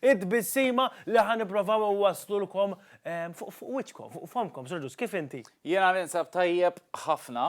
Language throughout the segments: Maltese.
It-tbissima li ħa nipprovaw inwasslulkom fuq wiċċkom, fuq fommkom, Sur Ġust, kif inti? Jiena ninsab tajjeb ħafna,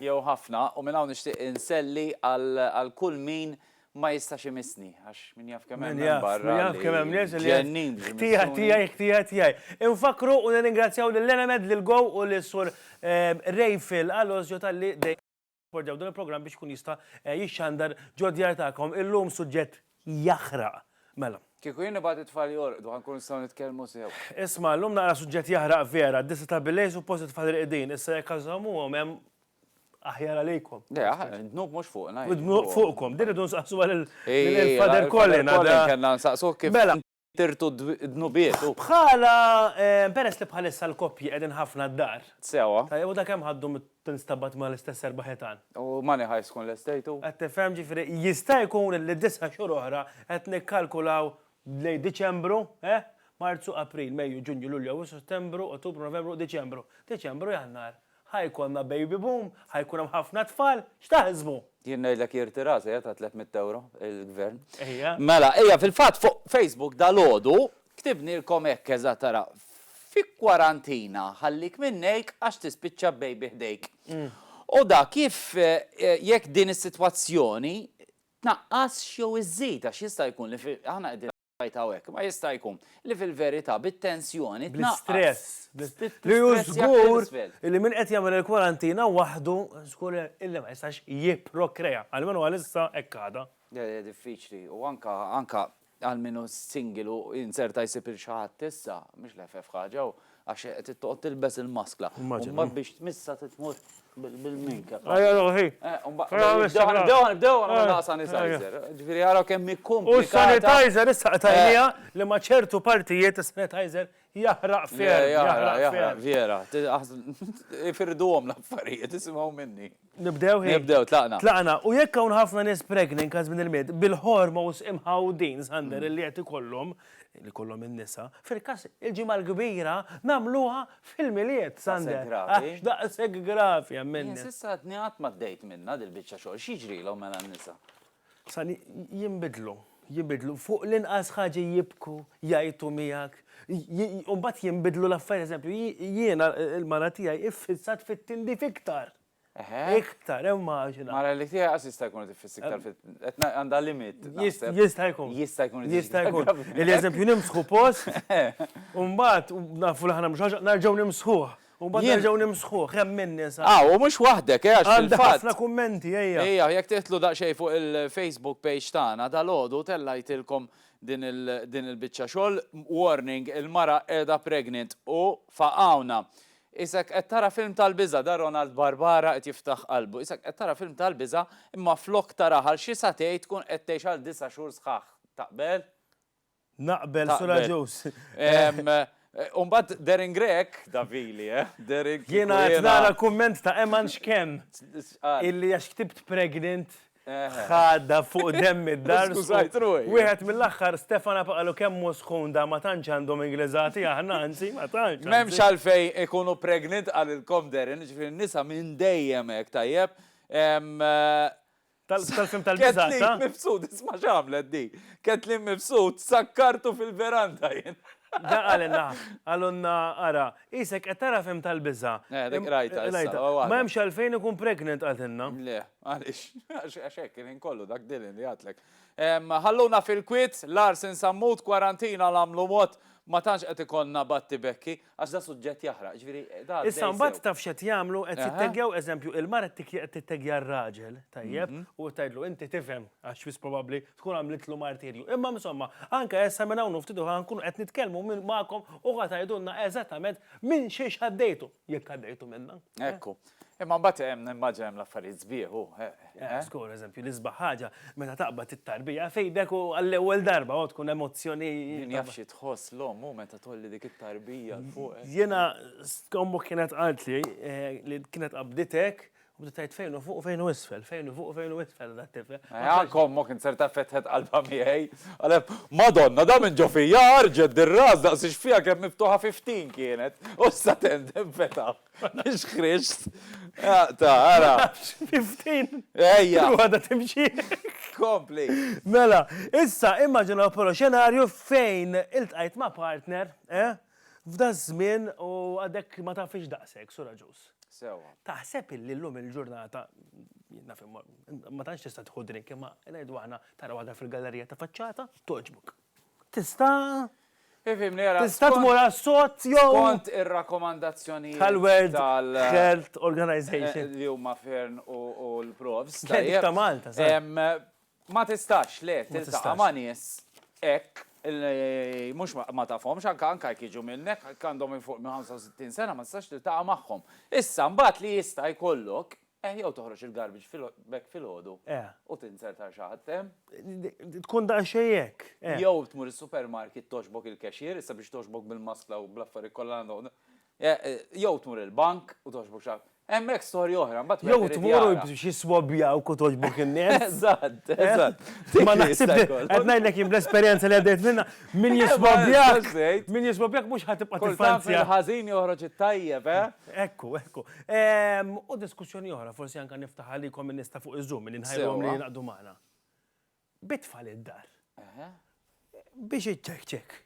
jew ħafna, u minn hawn nixtieq inselli għal kull min ma jistax imissni, għax min jaf kemm hemm hemm barra. Min jaf kemm hemm nies li ġennin. Ħtija tiegħi, ħtija tiegħi. Infakkru u nirringrazzjaw lil Enemed, lil Go u lis-Sur Ray Phil Alozio talli dejjem. Pordew dan il-programm biex ikun jista' jixxandar ġod-djar tagħkom illum suġġett jaħraq. Mela. Kieku jien nibgħat it-tfal jorqdu ħa nkunu nistgħu nitkellmu sew. Isma' llum naqra suġġett jaħraq vera, disa' ta' billejl suppost it-tfal irqidin, issa jekk għażżommuhom hemm aħjar għalikom. Le, d-dnub mhux fuqna. Id-dnub fuqkom, din irridu nsaqsuha lil Father Colin. Father Colin kellna nsaqsuh kif. Mela. tirtu d-dnubiet u. Bħala, peress li bħalissa l-koppji qegħdin ħafna d-dar. Sewwa. Tajjeb u ta' kemm ħaddu meta tinstabat ma' l-istess erba' ħitan? U money heist tkun lestejt u. Qed tifhem, ġifieri jista' jkun li disa' xhur oħra qed nikkalkulaw lejn Diċembru, eh? Marzu, April, Mejju, Ġunju, Lulju, Awwissu, Settembru, Ottubru, Novembru, Diċembru. Diċembru, Jannar. Ħa jkollna baby boom, ħa jkun hemm ħafna tfal, x'taħsbu? Jien ngħidlek jirtira l-sejħa ta' tliet mitt ewro il-Gvern. Ejja. Mela, ejja, fil-fatt fuq Facebook dalgħodu ktibnilkom hekk eżatt ara, Fi kwarantina ħallik minn nejk għax tispiċċa b'baby ħdejk. U da kif jekk din is-sitwazzjoni tnaqqasx jew iżżid għax jista' jkun li aħna qegħdin. Rajt hawnhekk. Ma jista' jkun li fil-verità bit-tensjoni tnaqqas. Bl-istress. Li hu żgur li min qed jagħmel il-kwarantina waħdu żgur illi ma jistax jipprokrea. Almenu għalissa hekk għadha. Diffiċli. U anke anke għal min hu single u jinzerta jsib lil xi ħadd issa, mhix l-eħfef ħaġa u Għax qed toqgħod tilbes il-maskla. Immaġina. Mbagħad biex tmissha trid tmur bil-minka. Ajja ruħi. Nibdew nibdew nagħmlu daqqa sanitizer. Ġifieri ara kemm hi komplikata. U s-sanitizer issa qtajniha li ma' ċertu partijiet is-sanitizer jaħraq ferm. Jaħraq ferm. Vera. Ifirduhom l-affarijiet, isimgħu minni. Nibdew hi. Nibdew, tlaqna. Tlaqna, u jekk hawn ħafna nies pregni anke żmien il-Mied, bil-ħorma u s-sqim Ħawdin, Sander, li qed ikollhom, li jkollhom in-nisa, fil-każ il-Ġimgħa l-Kbira nagħmluha fil-Milied, Sander. Għax daqshekk gravi hemm in-nisa. Jien s'issa għadni qatt ma dejt minnha dil-biċċa xogħol. X'jiġrilhom mela n-nisa? Sa li jinbidlu, jibidlu, fuq l-inqas ħaġa jibku, jgħajtu miegħek, u mbagħad jinbidlu l-affarijiet. Eżempju, jiena l-mara tiegħi iffissat fit-tindif iktar. Iktar, immaġina. Mara li tiegħi qas jista' jkun tiffiss iktar fit qed għandha limit. Jista' jkun. Jista' jkun. Jista' jkun. Eżempju, nimsħu post, u mbagħad nafu li aħna mhux ħaġa, nerġgħu nimsħuh. U mbagħad Jien- nerġgħu nimsħuh, hemm min nisa. Ah, u mhux waħdek, eh, għax Għandi fil-fatt. ħafna kummenti, ejja. Ejja, jekk tidħlu daqsxejn fuq il-Facebook page tagħna dalgħodu tellajtilkom din il- din il-biċċa xogħol. Warning, il-mara qiegħda pregnant u faqgħuna. Isek qed tara film tal-biża' da Ronald Barbara qed jiftaħ qalbu. Isek qed tara film tal-biża' imma flok taraha għal xi sagħtej tkun qed tgħix għal disa' xhur sħaħ. Taqbel? Naqbel, Sur Agius. Umbagħad Darren Grech, Davili, eh? Darren Grech. Jiena qed nara kumment ta' Eman x'kemm. Illi għax ktibt pregnant ħadda fuq demm id-dar. Skużajt ruħi. Wieħed mill-aħħar Stefan Apaqalu kemm hu sħun da ma tantx għandhom Ingliżati aħna, anzi ma tantx. M'hemmx għalfejn ikunu pregnant qalilkom Darren, ġifieri n-nisa minn dejjem hekk tajjeb. Tal-film tal-biża. Kathleen Mifsud, isma' x'għamlet di. Kathleen Mifsud sakkartu fil-veranda jien. Dan qalilna, qalulna ara, qisek qed tara film tal-biża. Eh, dik rajtha issa. Ma hemmx għalfejn ikun pregnant qaltilna. Le, għaliex? Għax hekk il-ħin kollu dak Dylan li għadlek. Ħalluna fil-kwiet, Lars insammut, kwarantina l-għamlu mod, ma tantx qed ikollna batti Becky. Għax da suġġett jaħraq, ġifieri da għaddej Issa mbagħad sew. taf x'qed jagħmlu, qed Aha. jitteggjaw eżempju, il-mara qed tik- qed titteggja r-raġel, tajjeb, u qed tgħidlu inti tifhem għax wis probabbli tkun għamlitlu martirju. Imma insomma, anke issa minn hawn u ftit oħra nkunu qed nitkellmu minn magħkom u ħa tgħidulna eżattament minn xiex għaddejtu, jekk għaddejtu minnha. Ekku. Imma mbagħad hemm, nimmaġina hemm l-affarijiet sbieħ, hu, eh? Żgur, eżempju, l-isbaħ ħaġa meta taqbad it-tarbija f'idek u għall-ewwel darba, oh, tkun emozzjoni. Min jaf xi tħoss l-omm hu meta tgħolli dik it-tarbija 'l fuq. Jiena, ommok kienet qaltli li kienet qabditek u bdiet tgħid fejn hu fuq u fejn hu isfel, fejn hu fuq u fejn hu isfel dat-tifel. Eh, anke ommok int ser taf fetħet qalbha miegħi. Qaleb, Madonna, da minn ġo fija ħarġet dir-ras daqs ix-xfija kemm miftuħa fi ftin kienet, u issa tendem fetħ. Mux Krist. Ah, ta, għara. 15. Ejja. Għada timxi. Kompli. Mela, issa immaġina polo xenarju fejn il-tqajt ma' partner, eh? F'da żmien u għadek ma tafix daqsek, sura ġus. Sewa. Taħseb illi l-lum il-ġurnata, ma tantx tista' tħu drink imma ngħidu aħna tara waħda fil-gallerija ta' faċċata, toġbuk. Tista' Ifhimni ara. Tista' tmur għas-sod jew. Skont ir-rakkomandazzjonijiet. Tal-World Health Organization. Li huma Fearne u l-Profs. Dik ta' Malta, żgħar. Ma tistax, le, tiltaqa' ma' nies hekk li mhux ma tafhomx, anke anke jekk jiġu minnek, jekk għandhom 'il fuq minn 65 sena ma tistax tiltaqa' magħhom. Issa mbagħad li jista' jkollok, Eh, jew toħroġ il-garbage bag filgħodu u tinser tar xi ħadd, eh? Tkun daqsxejn hekk, eh. Jew tmur is-supermarket togħġbok il-cashier, issa biex togħġbok bil-maskla u bl-affarijiet kollha għandhom, eh, jew tmur il-bank u togħġbok xi ħadd. Hemmhekk storja oħra, mbagħad wieħed irid jara. Jew tmur xi swabbjawk u togħġbok in-nies. Eżatt, eżatt. Ma naħsibx hekk. Qed ngħidlek jien bl-esperjenza li għaddejt minnha, min jiswabbjak, min jiswabbjak mhux ħa tibqa' tiffaċċja. Kultant il-ħażin joħroġ it-tajjeb, eh? Ekku, ekku. Ehm, u diskussjoni oħra, forsi anka niftaħ għalikom minn nista fuq iż-żum, minn nħajrom li jinaqdu magħna. Bitfall id-dar. Biex iċċek ċek.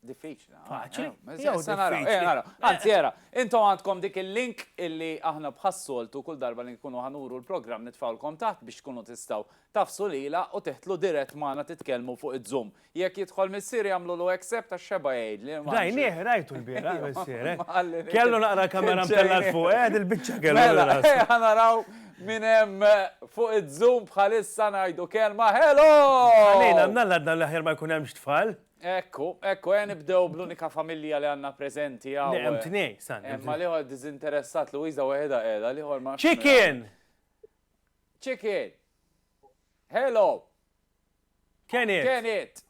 Diffiċli. Ah, Faċli. Eh, jew se naraw, eh, naraw. Anzi, era, intom għandkom dik il-link illi aħna bħassoltu kull darba li nkunu ħanuru l-programm nitfawlkom taħt biex tkunu tistaw tafsu lila u teħtlu dirett maħna titkelmu fuq id-zoom. Jekk jidħol missieri jagħmlulu accept għax xeba jgħidli. Rajnieh, rajtu l-bieraħ missier. Kellu naqra l-kamera mtellgħa 'l fuq, eh, dil-biċċa kellu. Mela, ejja naraw min hemm fuq iz-zoom bħalissa ngħidu kelma hello! Għalina, għandna l-għadna l-aħjar ma jkun hemmx tfal. Ekku, ekku, ejja nibdew bl-unika familja li għandna preżenti hawn. Le, hemm tnejn, Sandra. Hemm ma l-ieħor diżinteressat Luisa waħedha qiegħda, l-ieħor ma. Chicken! Chicken! Hello! Can it. Can it.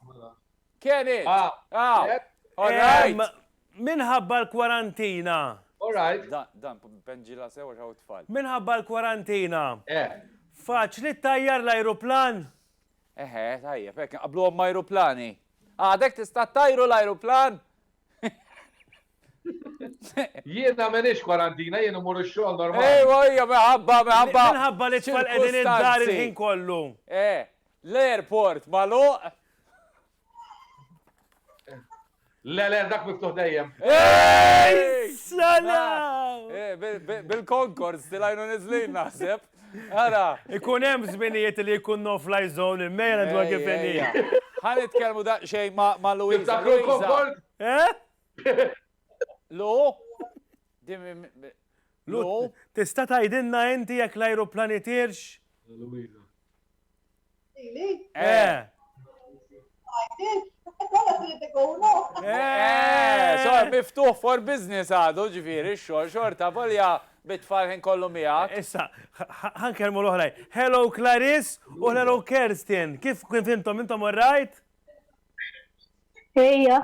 Can it. Ah. All right. Minħabba l-kwarantina. All right. Dan, penġila sewa xaw tfal. Minħabba l-kwarantina. Eh. Faċ li tajjar l-ajruplan? Eħe, tajja, pek, qablu għom ajruplani. Għadek tista tajru l-ajruplan? Jiena menix kwarantina, jiena mur ix-xogħol normali. Ejwa, hija meħabba, meħabba. Minħabba li tfal qegħdin id-dar il-ħin kollu. Eh, l-airport magħluq. Le, le, dak miftuħ dejjem. Ej, sala! Eh, Bil-Concords tilajnu nizlin naħseb. Ara. Ikun hemm żminijiet li jkun no fly zone il-mejna dwar kif Ħan itkellmu daqsxejn ma' Louisa. Tiftakru l-Concord? Eh? Lu? Lu, tista' tgħidilna inti jekk l-ajruplan itirx? Luisa. Ili? Eh. Eh, so miftuħ for business għadu ġifieri x-xogħol xorta volja bit-tfal ħin kollu miegħek. Issa, ħankelmu l-oħraj. Hello Clarice u hello Kerstin. Kif kif intom intom all right? Ejja.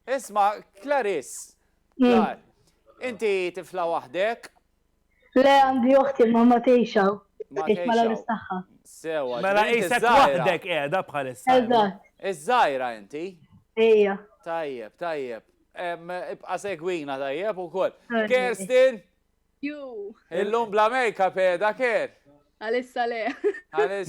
Isma', Clarice, Clar, inti tifla waħdek? Le, għandi oħti, imma ma tgħix hawn. Tgħix mal-għarus tagħha. Sewwa. Mela qisek waħdek qiegħda bħalissa. Eżatt. Iż-żgħira inti? Ejja. Tajjeb, tajjeb. Ibqa' segwina tajjeb ukoll. Kerstin, Illum bla makeup eh, daker? Għalissa le.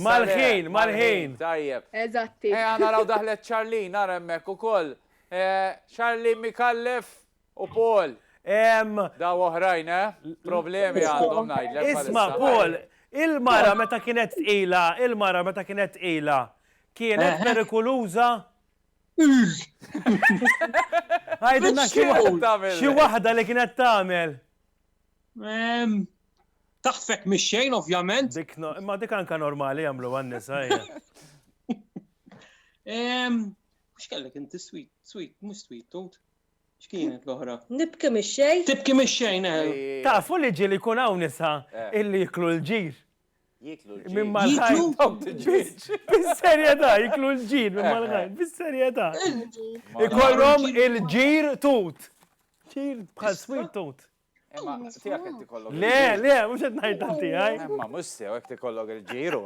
Mal-ħin, mal-ħin. Tajjeb. Eżatti. Eh, għana raw daħlet Charlene, nara emmek u koll. Eh, Charlene Mikallef u Paul. Daw oħrajn, eh? Problemi għandhom najdlek. Isma, Paul, il-mara meta kienet ila, il-mara meta kienet ila, kienet perikoluza? Għajdilna xi waħda li kienet tagħmel. Taħfek mix-xejn ovvjament. Dik imma dik anka normali jagħmlu għan-nisa. Mhux kellek inti sweet, sweet, mhux sweet tot. X'kienet l-oħra? Nibki mix-xejn. Tibki mix-xejn, eh. Tafu li ġieli jkun hawn nisa eh. illi jiklu l-ġir. Jieklu l-ġid. Minn mal-ħajt dawk il-ġid. Bis-serjetà, jieklu l-ġid minn mal-ħajt, bis-serjetà. Ikollhom il-ġir tut. Ġir bħal swit tut. Imma tiegħek qed tikollok. Le, le, mhux qed ngħid ta' tiegħi. Imma mhux sew hekk tikollok il-ġiru.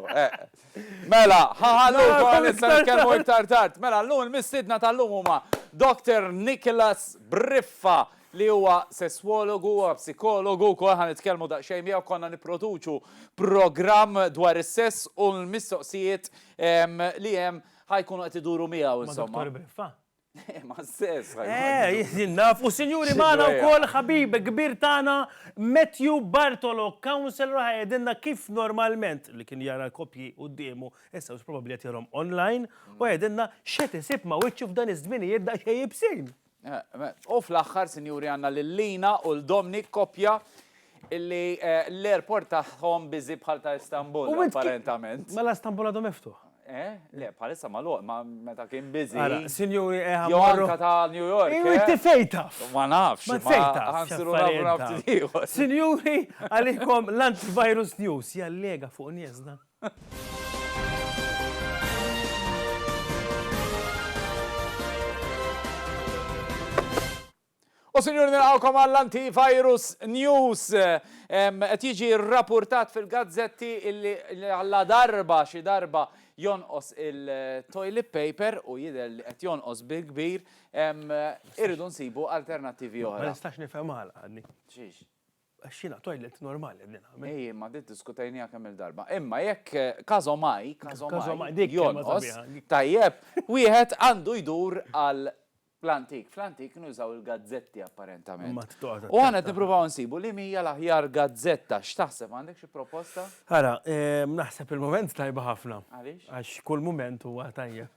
Mela, ħaħallu wkoll issa nitkellmu iktar tard. Mela, llum il-mistiedna tal-lum huma Dr. Nicholas Briffa li huwa sesswologu, huwa psikologu wkoll, ħa nitkellmu daqsxejn miegħu, konna nipproduċu programm dwar is-sess u l-mistoqsijiet li hemm ħa jkunu qed iduru miegħu insomma. Ma' Dottor Briffa? Le, ma' sess. Eh, jien naf, u sinjuri magħna wkoll ħabib kbir tagħna Matthew Bartolo, counsellor ħa jgħidilna kif normalment li kien jara l-koppji quddiemu, issa probabbli qed jarahom online, u jgħidilna x'qed isib ma' wiċċu f'dan iż-żminijiet daqsxejn ibsin. U fl-aħħar, sinjuri, għandna lil Lina u l Dominic, koppja illi l-airport tagħhom biżi bħal ta' Istanbul, apparentament. Mela Istanbul għadu miftuħ? Eh? Le, bħalissa magħluq, ma meta kien biżi. Ara, sinjuri, eh, ħa Jo anka ta' New York. Iwi, inti fejn taf? Ma nafx. Ma fejn taf? Ħansiru nafu nafti ieħor. Sinjuri, għalikom l-antivirus news jallega fuq niesna. U sinjur nilqawkom għall-antivirus news. Qed jiġi rrapurtat fil-gazzetti illi għalla darba xi darba jonqos il-toilet paper u jidher li qed jonqos bil-kbir irridu nsibu alternattivi oħra. Ma nistax nifhem għala għadni. Xiex? Għax jiena toilet normali qegħdin nagħmel. Ej, imma din diskutejniha kemm-il darba. Imma jekk każomaj, każomaj, jonqos, tajjeb, wieħed għandu jdur għal l-antik. Fl-antik kienu jużaw il-gazzetti apparentament. U aħna qed nippruvaw insibu li mija l-aħjar gazzetta. X'taħseb għandek xi proposta? Ara, naħseb il-mument tajba ħafna. Għaliex? Għax kull mument huwa tajjeb.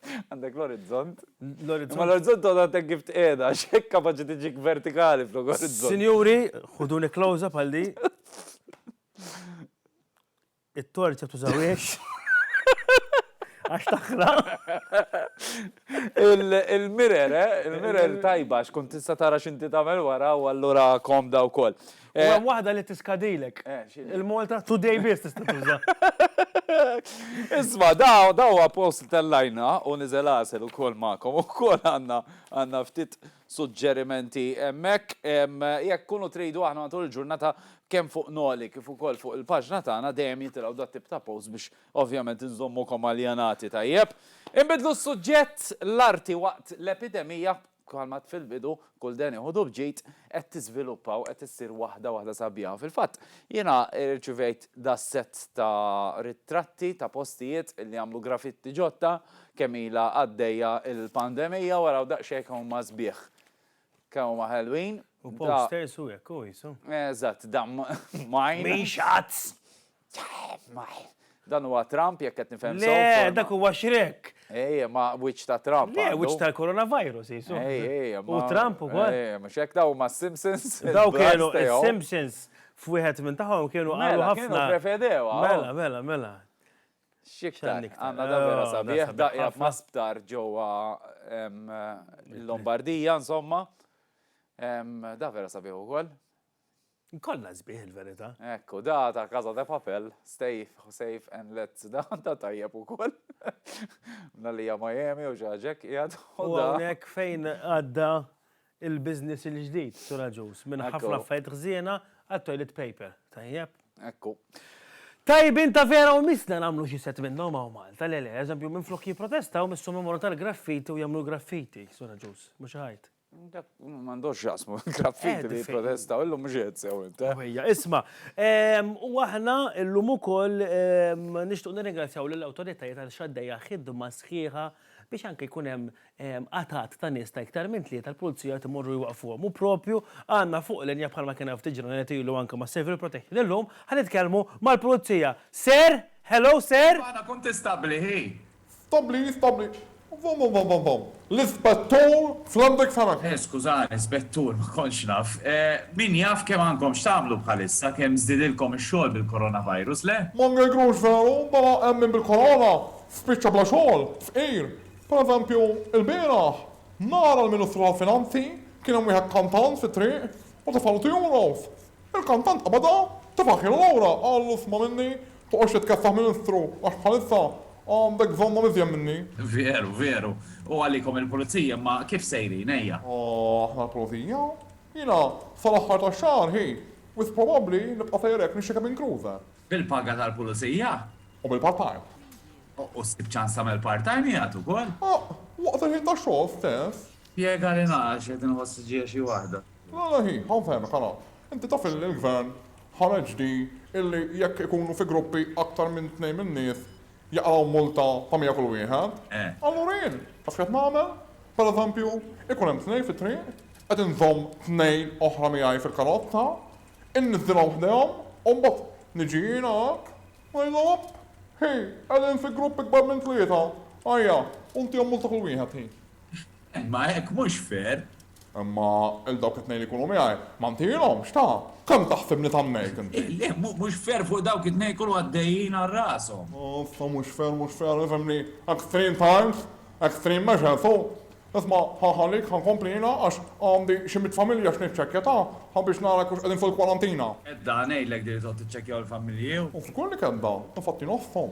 Għandek l-orizzont? L-orizzont. Ma l-orizzont għadha tek kif tqiegħda, xek kapaċi tiġik vertikali flok orizzont. Sinjuri, ħuduni klawża bħal di. It-torċa tużawiex. Għax taħra. Il-mirer, eh? Il-mirer tajba, xkun tista tara xinti tamel wara u allura komda u koll. U eh, hemm waħda li tiskadilek. Eh, Il-Malta today biss tista' tuża. Isma, daw daw post tal-lajna u niżel għasel ukoll magħkom ukoll għandna għandna ftit suġġerimenti hemmhekk jekk kunu tridu aħna matul il-ġurnata kemm fuq noli kif ukoll fuq il-paġna tagħna dejjem jitilgħu dat tip ta' post biex ovvjament inżommukom aljanati tajjeb. Inbidlu s-suġġett l-arti waqt l-epidemija Bħalma għedt fil-bidu, kull deni ħudu b'ġid, qed tiżviluppa u qed issir waħda waħda sabiħa u fil-fatt jiena rċivejt das-sett ta' ritratti ta' postijiet li għamlu grafitti ġodda kemm ilha għaddejja l-pandemija u araw daqsxejn kemm huma sbieħ, kemm huma ħelwin. U posters u hekk hu qisu. Eżatt, dan mine. Mhix ads! Dan huwa Trump jekk qed nifhem sew. Le, dak huwa Shrek. Ejja, ma wiċċ ta' Trump. Le, wiċċ tal-coronavirus, jisu. Ejja, ma. U Trump ukoll. Ejja, mhux hekk daw ma' Simpsons. Daw kienu Simpsons f'wieħed minn tagħhom kienu qalu mela, ħafna. Kienu prefedew. Mela, mela, mela. Xiktar, għanna da vera oh, sabiħ, daqja ma sptar ġowa l-Lombardija, insomma. Da vera sabiħ u koll. Nkollha sbieħ il-verità. Hekk u da ta' Casa de Papel, Stay Safe and Let's da ta' tajjeb ukoll. Mna li hija Miami u ġaġek qiegħed u da. Hawnhekk fejn għadda il-business il-ġdid suraġuż minn ħafna affarijiet ħżiena għal toilet paper. Tajjeb. Hekk u. Tajbin ta' vera u missna nagħmlu xi set minnhom hawn Malta, le le, eżempju minflok jipprotestaw missu numru tal-graffiti u jagħmlu l-graffiti suraġuż, mhux iħajt. Dak m'għandux x'jaqsmu l-graffiti li jipprotestaw, illum mhux qed sew int. Ħwejja', isma', u aħna llum ukoll nixtiequ nirringrazzjaw lill-awtoritajiet għaliex għaddejja ħidma sħiħa biex anke jkun hemm għatad ta' nies ta' iktar minn tlieta l-Pulizija qed imorru jwaqqfuhom. U proprju għandna fuq linja bħalma kien hawn ftit ġranet ilu anke ma' Civil Protection illum ħa nitkellmu mal-Pulizija. Sir! Hello, sir! Iva, aħna kuntistabbli hi. Stabbli, stabbli. Vom, vom, vom, vom. L-Ispettur Flandek Farag. Eh, skużani, Spettur, ma kontx naf. Min jaf kemm għandkom x'tagħmlu bħalissa, kemm żdiedilkom ix-xogħol bil-Coronavirus, le? Ma ngeggrux veru, bala hemm min bil-Corona spiċċa bla xogħol, fqir. Pereżempju, ilbieraħ, nhar għall-Ministru tal-Finanzi, kien hemm wieħed kantant fit-triq u tefgħalu two euros. Il-kantant qabadha, tefa' ħielu lura, qallu sma' minni, toqgħodx titkeffaħ Ministru għax bħalissa għandek bżonnhom iżjed minni. Veru, veru. U għalikom il-Pulizija imma kif sejrin, ejja. Aħna l-Pulizija? Jiena sal-aħħar tax-xahar, hi, wisq probabbli nibqa' sejjer hekk nixxekeb minn Kruse. Bil-paga tal-Pulizija? U bil-part-time. U ssib ċans tagħmel part-time qiegħed ukoll? Waqt il-ħin tax-xogħol stess. Spjegali naqra x'qed inħoss ġie xi waħda. Le le hi, ħa nfehmek ara. Inti taf illi l-Gvern ħareġ di illi jekk ikunu fi gruppi aktar minn tnejn min-nies jaqraw multa ta' mija kull wieħed? Allura jien, taf x'qed nagħmel? Per eżempju, ikun hemm tnejn fit-triq, qed inżomm tnejn oħra miegħi fil-karozza, inniżżilhom ħdejhom u mbagħad niġi jiena hekk, ngħidilhom opp! Hi, qegħdin fi grupp ikbar minn tlieta, ajja, u ntihom multa kull wieħed hi. Imma hekk mhux fair! Imma 'l dawk it-tnejn li jkunu miegħi, ma ntihilhomx, ta? Kemm taħsibni tannejt inti? Le, mhux fair fuq dawk it-tnejn jkunu għaddejjin għal rashom! Uff, ta' mhux fair, mhux fair, ifhimni, extreme times, extreme measures, hu! Isma', ħa nħallik, ħa nkompli jiena għax għandi xi mitt familja x'niċċekkja, ta? Ħa biex nara jekk hux qegħdin fil-kwarantina! Kedda, ngħidlek din li toqgħod tiċċekkjahom il-familji, hu! Uff, żgur li kedda! Infatti nofshom!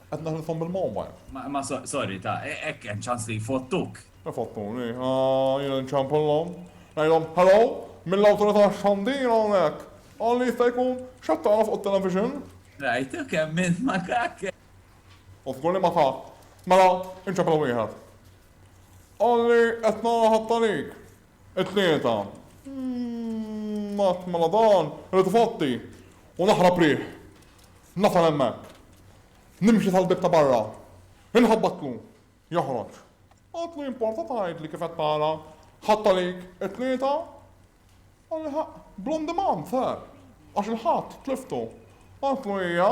Qed neħlifhom bil-mowbajl. Ma sorry ta, hekk hemm ċans li jfottuk. Ifottuni, ah, jien inċempullhom. Ngħidhom, hello, mill-Awtorità tax-Xandir hawnhekk. Qal li jista' jkun, x'qed tara fuq it-television? Rajtu kemm minn makak! U żgur li ma ta. Mela, inċempel wieħed. Qal li qed nara ħadd għalik. It-tlieta. Mat mela dan, irrid ifotti u naħrab riħ. Nasal hemmhekk. Nimxi sal-bieb ta' barra. Inħabbatlu. Joħroġ. Għadlu jimporta tgħidli kif qed tara? Ħadt għalik it-tlieta? Qalli, Bl-on demand, sir. Għax il-Ħadd tliftu. Għadlu hija.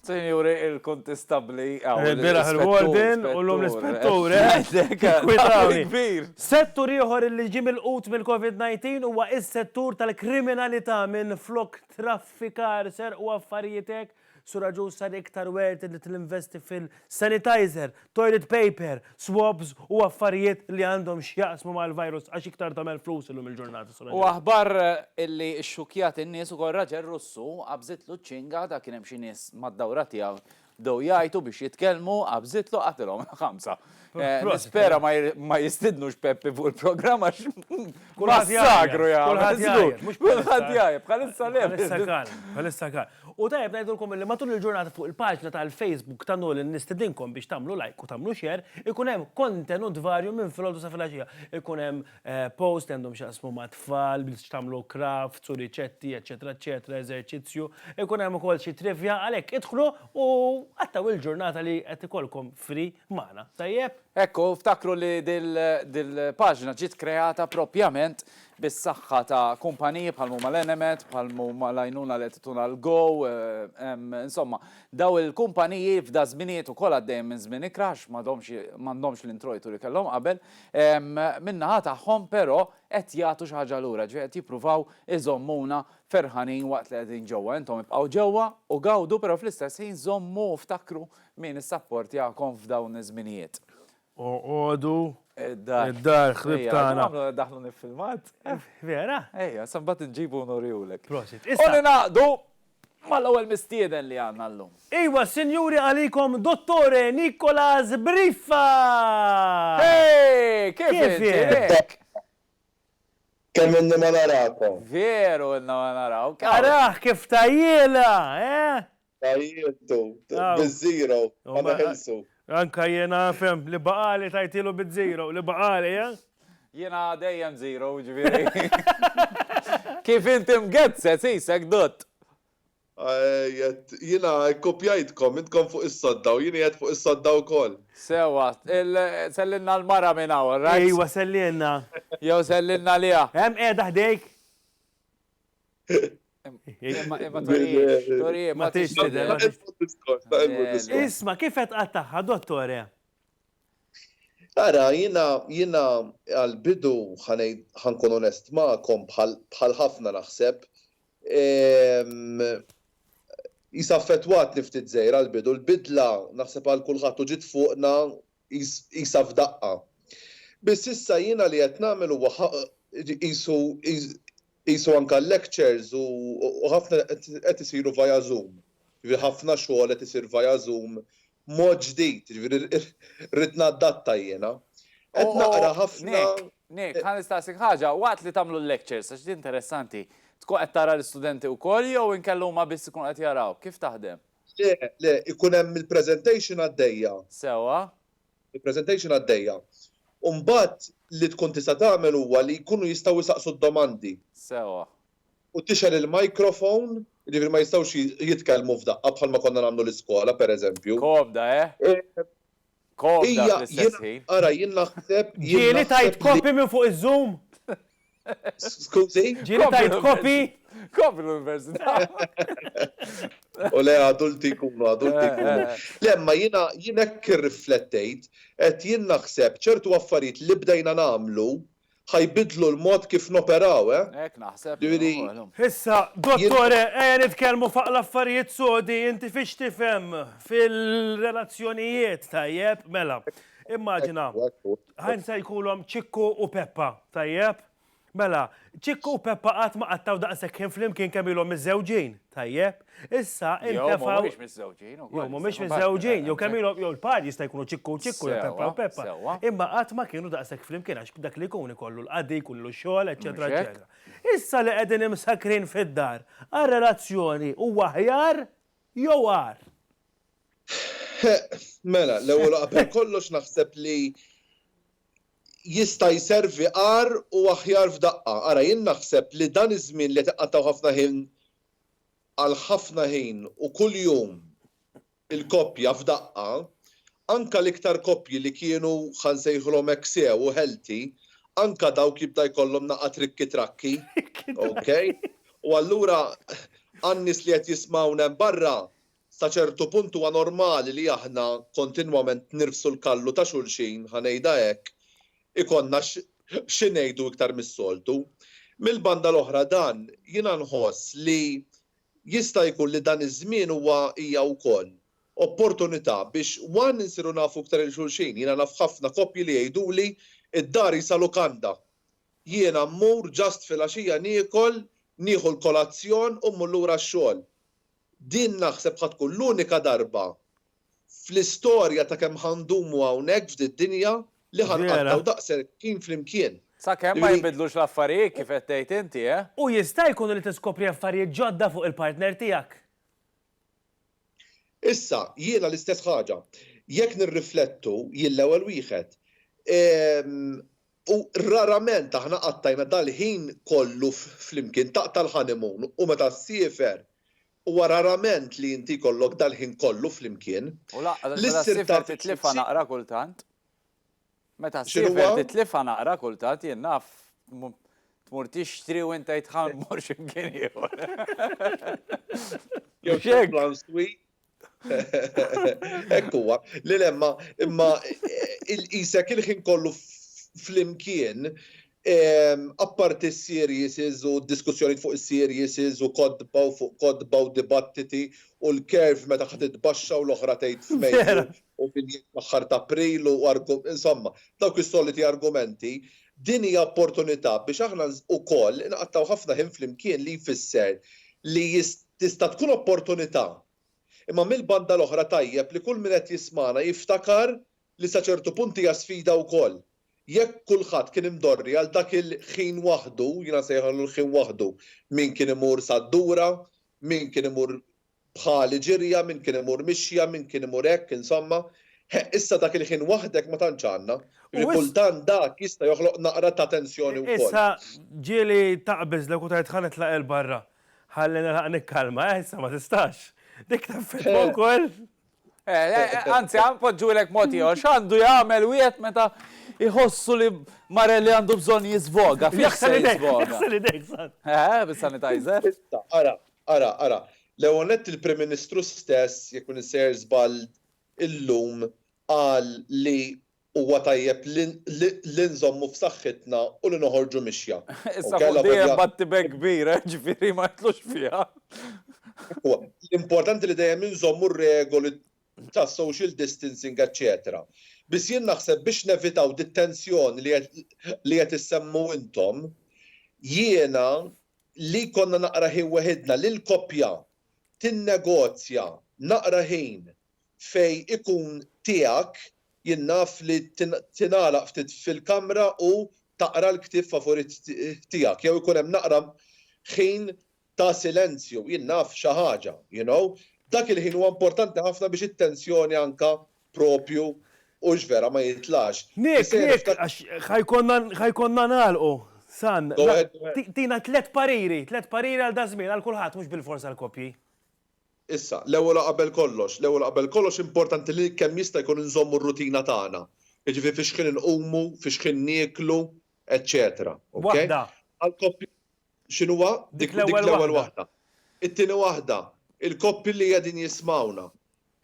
Sinjuri, il-kontistabbli għaw. Il-biraħ il-warden u l-lum l-ispettur, eh? Settur ieħor li ġie milqut mill-COVID-19 huwa s-settur tal-kriminalità minflok traffikar, serq u affarijiet hekk. Sur Agius sar iktar werted li tinvesti fil- sanitizer, toilet paper, swabs u affarijiet li għandhom x'jaqsmu mal-virus għax iktar tagħmel flus illum il-ġurnata Sur Aġel. U aħbar li xxukkjat in-nies ukoll raġel Russu qabżitlu ċ-ċinga ta' kien hemm xi nies mad-dawra tiegħu bdew jgħajtu biex jitkellmu qabżitlu qatilhom il-ħamsa. Nispera ma jistidnux Peppi fuq il-programm għax massakru jagħmel żgur. Kulħadd jgħajjat. Kulħadd jgħajjat. Bħalissa le. Bħalissa calm. Bħalissa calm. U tajjeb ngħidulkom illi matul il-ġurnata fuq il-paġna tal-Facebook ta' Nolan nistedinkom biex tagħmlu like u tagħmlu share, ikun hemm kontenut varju minn filgħodu sa filgħaxija. Ikun hemm posts li għandhom x'jaqsmu mat-tfal, bl x'tagħmlu crafts u riċetti eċċetera eċċetera, eżerċizzju, ikun hemm ukoll xi trivja, għalhekk idħlu u qattgħu il-ġurnata li qed ikollkom free magħna. Tajjeb? Hekk hu, ftakru li dil-paġna ġiet kreata proprjament bis-saħħa ta' kumpaniji bħal m'huma l-Enemed, bħal m'huma l-għajnuna li qed tituna l-Go, insomma, dawn il-kumpaniji f'dażminijiet ukoll għaddejjin minn żmien ikra għax m'għadhomx m'għandhomx l-introjtu li kellhom qabel, min-naħa tagħhom però qed jagħtu xi ħaġa lura, ġifieri qed jippruvaw iżommuna ferħanin waqt li qegħdin ġewwa. Intom ibqgħu ġewwa u gawdu però fl-istess ħin żommu u ftakru min issapportjakom f'dawn iż-żminijiet. Oqogħdu. Id-dar. Id-dar ħrib tagħna. Daħlu nifilmat. Vera? Ejja, sa mbagħad inġibu nurihulek. Prosit. U ningħaqdu mal-ewwel mistieden li għandna llum. Iva, sinjuri għalikom Dottore Nicolas Briffa! Hej! Kif inti? Kemm ilni ma narakom. Veru ilna ma narawk. Arah kif tajjielha, eh? Għajjiltu, biz-zero, ma neħilsu. Anka jien nafhem, li baqgħali tajtielu biz-zero, li baqgħali, eh? Jiena dejjem zero, jiġifieri. Kif int imgezzez, qisek dutt. Għedt, jiena kkupjajtkom, intkom fuq is-sodda u jien qiegħed fuq is-sodda wkoll. Sewwa, sellilna l-mara minn hawn, all right? Ejwa, sellilna. Jew sellilna liha. Hemm qiegħda ħdejk. Isma, kif qed qattaħħa, dottore? Ara, jina, jina għal-bidu ħankun onest ma'kom bħal ħafna naħseb. Ehm, jisa fetwat niftit zejra għal-bidu, l-bidla naħseb għal kulħadd u ġit fuqna qisha f'daqqa. Biss issa jiena li qed nagħmel huwa qisu qisu anke l-lectures u ħafna qed isiru via Zoom. Jiġifieri ħafna xogħol qed isir via Zoom b'mod ġdid, jiġifieri rrid naddatta jiena. Qed naqra ħafna. Nick, Nick, ħa nistaqsik ħaġa, waqt li tagħmlu l-lectures, għax din interessanti, tkun qed tara l-istudenti wkoll jew inkella huma biss ikunu qed jaraw? Kif taħdem? Le, le, ikun hemm il-presentation għaddejja. Sewwa. Il-presentation għaddejja. U mbagħad li tkun tista' tagħmel huwa li jkunu jistgħu jsaqsu d-domandi. Sewwa. U tixgħel il-microphone, jiġifieri ma jistgħux jitkellmu f'daqqa bħalma konna nagħmlu l-iskola, pereżempju. Komda, eh? Ija, jien, ara, jien naħseb, jien. Ġieli tgħid copy minn fuq iż-Zoom? Skużi? Ġieli tgħid copy? Copy l-Università. U le adulti jkunu, adulti jkunu. Le, ma jiena jien hekk irriflettejt, qed jien naħseb ċertu affarijiet li bdejna nagħmlu ħa jbiddlu l-mod kif noperaw, eh? Hekk naħseb jien. Issa, Dottore, ejja nitkellmu faq l-affarijiet sodi, inti fiex tifhem fil-relazzjonijiet, tajjeb? Mela, immaġina, ħajn se jkulhom Ċikku u Peppa, tajjeb? Mela, Ċikku u Peppa qatt ma qattgħu daqshekk ħin flimkien kemm ilhom miżżewġin, tajjeb? Issa intefaw. Jew mhumiex miżżewġin ukoll. Jew mhumiex miżżewġin, jew kemm ilhom jew il-par jista' jkunu ċikku ċikku jew peppa u peppa. Imma qatt ma kienu daqshekk flimkien għax dak li jkun ikollu l-qadi, jkollu x-xogħol, eċċetera eċċetera. Issa li qegħdin imsakkrin fid-dar, għar-relazzjoni huwa aħjar jew agħar? Mela, l-ewwel u qabel kollox naħseb li jista' jservi agħar u aħjar f'daqqa. Ara jien naħseb li dan iż-żmien li qed iqattgħu ħafna ħin għal ħafna ħin u kuljum il-koppja f'daqqa, anke l-iktar koppji li kienu ħa nsejħulhom hekk sew u healthy, anke dawk jibda jkollhom naqgħa trikki trakki, ok? U allura għan-nies li qed jismgħuna hemm barra, Sa ċertu punt huwa normali li aħna kontinwament nirfsu l-kallu ta' xulxin, ħa ngħidha hekk, ikollna xi ngħidu iktar mis-soltu. Mill-banda l-oħra dan, jiena nħoss li jista' jkun li dan iż-żmien huwa, hija wkoll, opportunità biex one insiru nafu iktar 'il xulxin. Jiena naf ħafna koppji li jgħiduli d-dar qisha lukanda. Jiena mmur just filgħaxija niekol, nieħu l-kolazzjon u mmur lura x-xogħol. Din naħseb ħa tkun l-unika darba fl-istorja ta' kemm ħa ndumu hawnhekk f'did-dinja li ħa nqattgħu daqshekk ħin flimkien. Sakemm ma jinbidlux l-affarijiet kif qed tgħid inti, eh? U jista' jkun li tiskopri affarijiet ġodda fuq il-partner tiegħek. Issa, jiena l-istess ħaġa. Jekk nirriflettu, jien l-ewwel wieħed. U rarament aħna qattajna dal-ħin kollu flimkien, taqta' l-honeymoon u meta ssiefer huwa rarament li inti jkollok dal-ħin kollu flimkien. U lanqas meta ssiefer titlifha naqra kultant. Meta ssiefer titlifha naqra kultant, jien naf, tmur tixtri u int tgħid ħa mmur xi mkien ieħor. Jew tmur plan sweet, Hekk huwa, li lemma imma isek il-ħin kollu flimkien apparti s-series u diskussjoni fuq is-series u kotba u fuq kotba u dibattiti u l-curve meta ħa titbaxxa u l-oħra tgħid f'Mejju u min jgħid fl-aħħar ta' April u insomma dawk is-soliti argumenti din hija opportunità biex aħna ukoll inqattgħu ħafna ħin flimkien li jfisser li jista' Tista' tkun opportunità, imma mill-banda l-oħra tajjeb li kull min qed jismagħna jiftakar li sa ċertu punt hija sfida wkoll. Jekk kulħadd kien imdorri għal dak il-ħin waħdu, jiena nsejħillu l-ħin waħdu, min kien imur sad-dura, min kien imur bħali ġirja, min kien imur mixja, min kien imur hekk, insomma, he, issa dak il-ħin waħdek ma tantx għandna. Jiġifieri kultant dak jista' joħloq naqra ta' tensjoni wkoll. Issa ġieli taqbiżlek u tgħid ħa nitlaq 'il barra. Ħalli nilħaq nikkalma, eh, issa ma tistax. Dik taffetwa wkoll. Eh, eh, eh, anzi, għan podġu l-ek moti, għax għandu jgħamil u jgħet meta jħossu li Marelli għandu bżon jizvoga. Jaxsan idek, jaxsan idek, san. Eh, bis-sanitizer. Ara, ara, ara. Leonet il-Prim Ministru stess, jekun nisser zbal illum, għal li Huwa tajjeb li nżommu f'saħħitna u li noħorġu mixja. Issa fuq dejjem batti b'hekk kbira, jiġifieri ma nitlux fiha. L-importanti li dejjem inżommu r-regoli tas-social distancing eċċetera. Biss jien naħseb biex nevitaw dit-tensjoni li qed issemmu intom, jiena li jkollna naqra ħin weħidna, li l-koppja tinnegozja naqra ħin fejn ikun tiegħek jien naf li tingħalaq ftit fil-kamra u taqra l-ktieb favorit tiegħek jew ikun hemm naqra ħin ta' silenzju jien naf xi ħaġa you know dak il-ħin huwa importanti ħafna biex it-tensjoni anke proprju hux vera ma jitlax. Nick, Nick, għax ħa jkollna ħa jkollna nagħlqu. San, tina tliet pariri, tliet pariri għal daż-żmien għal kulħadd mhux bilfors għall-koppji. Issa, l-ewwel u qabel kollox, l-ewwel u qabel kollox importanti li kemm jista' jkun inżommu r-rutina tagħna, jiġifieri fiex ħin inqumu, fiex ħin nieklu, eċċetera. Okej? Għall-koppji. Waħda. X'inhuwa? Dik l-ewwel waħda. It-tieni waħda, il-koppji li qegħdin jismgħuna,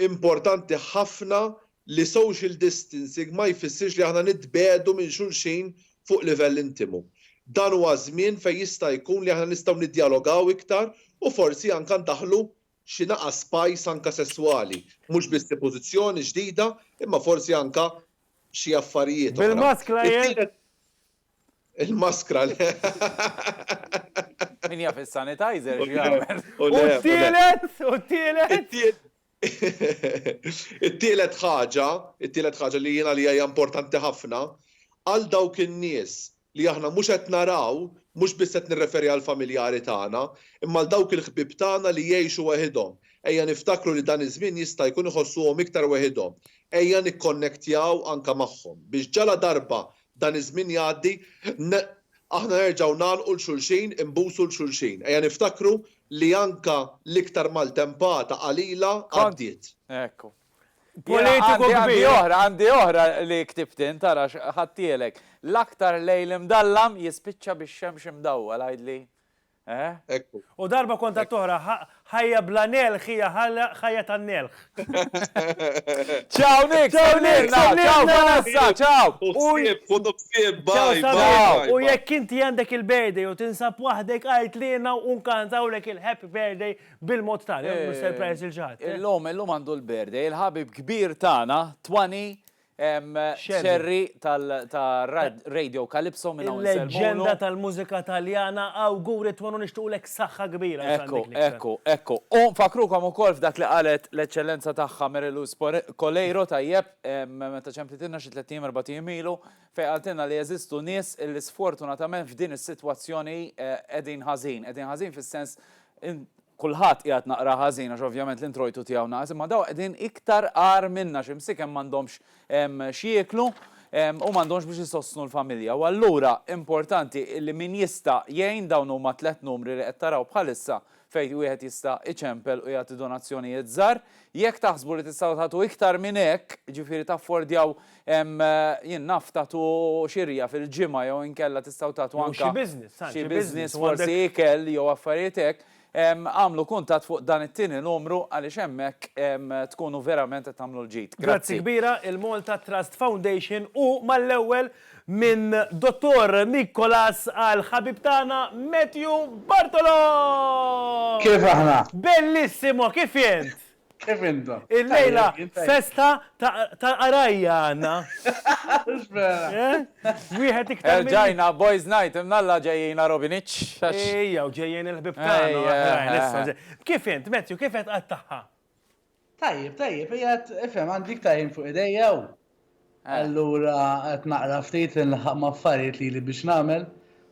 importanti ħafna li social distancing ma jfissirx li aħna nitbiegħdu minn xulxin fuq livell intimu. Dan huwa żmien fejn jista' jkun li aħna nistgħu niddjalogaw iktar u forsi anke ndaħħlu xi naqas spice anke sesswali, mhux biss xi pożizzjoni ġdida imma forsi anke xi affarijiet oħra. Bil-maskra jekk? Il-maskra le. Min jaf is-sanitizer x'jagħmel. U t-tielet? U t-tielet? It-tielet ħaġa, it-tielet ħaġa li jien għalija hija importanti ħafna, għal dawk in-nies li aħna mhux qed naraw, mhux biss qed nirreferi għall-familjari tagħna, imma għal dawk il-ħbieb tagħna li jgħixu weħidhom, ejja niftakru li dan iż-żmien jista' jkun iħossuhom iktar weħidhom. Ejja nikkonnektjaw anke magħhom, biex ġaladarba Dan iż-żmien jgħaddi, aħna nerġgħu ngħalqu 'l xulxin, inbusu 'l xulxin. Ejja niftakru li anke l-iktar maltempata qalila għaddiet. Ekku. Politiku kbir. Għandi oħra li ktibt int, ara x'ħadtielek. L-aktar lejl imdallam jispiċċa bix-xemx imdawwal, għidli. Eħ. Ekku. U darba kont għad toħra, ħajja bla nelħ hija ħajja ta' nelħ. Ciao Nick, ciao Nick, ciao Vanessa, ciao. U ksib, u ksib, bye, bye. U jekk inti għandek il-birthday u tinsab waħdek għajt li jena u nkantaw lek il-happy birthday bil-mod tal, jgħu surprise il-ġat. Illum, illum għandu l-birthday, il-ħabib kbir tana, 20 Scerri ta' Radio Calypso minn hawn insellmulu. Il-leġġenda tal-mużika Taljana, awguri twal u nixtiequlek saħħa kbira. Ekku, ekku, ekku. U nfakkrukom ukoll f'dak li qalet l-Eċċellenza Tagħha Mary Louise Coleiro, tajjeb, meta ċemplitilna xi tliet ijiem erbat ijiem ilu, fejn qaltilna li jeżistu nies li sfortunatament f'din is-sitwazzjoni qegħdin ħażin, qegħdin ħażin fis-sens Kulħadd qiegħed naqra ħażin għax ovvjament l-introjtu tiegħu naqas imma dawn qegħdin iktar agħar minna xi msiken m'għandhomx x'jieklu u m'għandhomx biex isostnu l-familja u allura importanti li min jista' jgħin dawn huma tliet numri li qed taraw bħalissa fejn wieħed jista' iċempel u jagħti donazzjonijiet żgħar. Jekk taħsbu li tistgħu tagħtu iktar minn hekk, jiġifieri taffordjaw Hemm, jien naf, tagħtu xirja fil-ġimgħa jew inkella tistgħu tagħtu anke. Jew xi business, tant xi business forsi. Xi business, forsi ikel jew affarijiet hekk. Agħmlu kuntatt fuq dan it-tieni numru għaliex hemmhekk tkunu verament qed tagħmlu l-ġid. Grazzi. Grazzi kbira il-Malta Trust Foundation u mal-ewwel minn Dottor Nicolas għal ħabib tagħna Matthew Bartolo! Kif aħna? Bellissimo, kif int? Kif intom? Il-lejla festa tal-qarajja għanna. Eh? Wieħed iktar. Ġajna, boys night, imnalla ġejjina Robinic. Ejja, u ġejjen il-ħbib tagħna. Kif int, Matthew, kif qed qattaħħa? Tajjeb, tajjeb, jgħat, ifhem, għandi iktar fuq idejja u Allura qed naqra ftit li nlaħaq ma' affarijiet lili biex nagħmel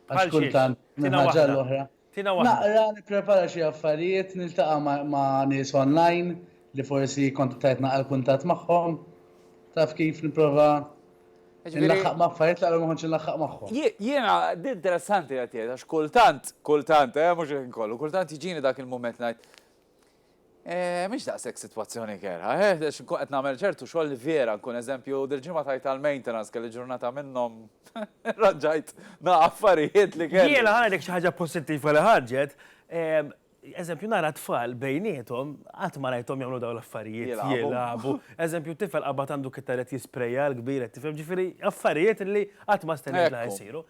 għax kultant minn ħaġa għal oħra. Naqra, nipprepara xi affarijiet, niltaqa' ma' nies online li forsi kont tajt naqal kuntatt magħhom. Taf kif nipprova nlaħaq ma' affarijiet li qabel ma kontx inlaħaq magħhom. Jiena din interessanti qed tgħid għax kultant, kultant, mhux il-ħin kollu, kultant jiġini dak il-mument ngħid, Mhix daqshekk sitwazzjoni kerha, eh, għax inkun qed nagħmel ċertu xogħol li vera nkun eżempju, dil-ġimgħa tajt għall-maintenance kelli ġurnata minnhom raġajt nara affarijiet li kelli. Jiena ngħidlek xi ħaġa pożittiva li ħarġet, eżempju nara tfal bejniethom qatt ma rajthom jagħmlu dawn l-affarijiet jilagħbu. Eżempju tifel qabad għandu kittar qed jisprejja l-kbir qed tifhem, ġifieri affarijiet li qatt ma stennejt li ħajsiru.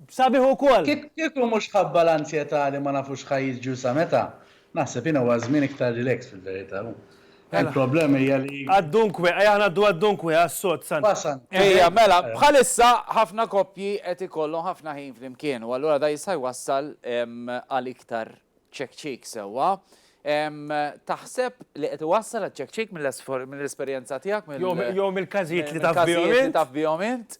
Sabiħ ukoll! Kieku mhux ħabba l-anzjetà li ma nafux x'ħa jiġri u sa meta, Naħseb jien huwa żmien iktar relax fil-verità. Il-problema hija li. Għad-dunque, ejja ngħaddu għad-dunque, għas-sod, sant. Wasan. Ejja, mela, bħalissa ħafna koppji qed ikollhom ħafna ħin flimkien u allura da jista' jwassal għal iktar ċekċik sewwa. Taħseb li qed iwassal għaċ-ċekċik mill-esperjenza tiegħek, mill. Jew mill-każijiet li taf bihom int? Mill-każijiet li taf bihom int?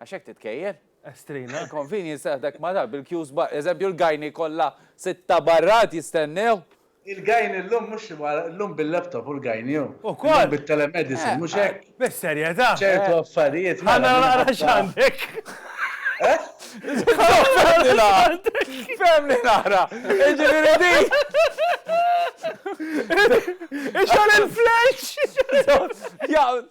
Għax hekk titkejjel. Estrina. Il-convenience teħdek ma' dan bil-queues barra. Eżempju l-gajni kollha sitta barra qed jistennew. Il-gajni llum mhux llum bil-laptop hu l-gajni hu. Ukoll. Llum bit-telemedicine mhux hekk? Bis-serjetà. Ċertu affarijiet. Ħa nara naqra x'għandek. Fehmni naqra. Jiġifieri din. Ixgħol il-flash.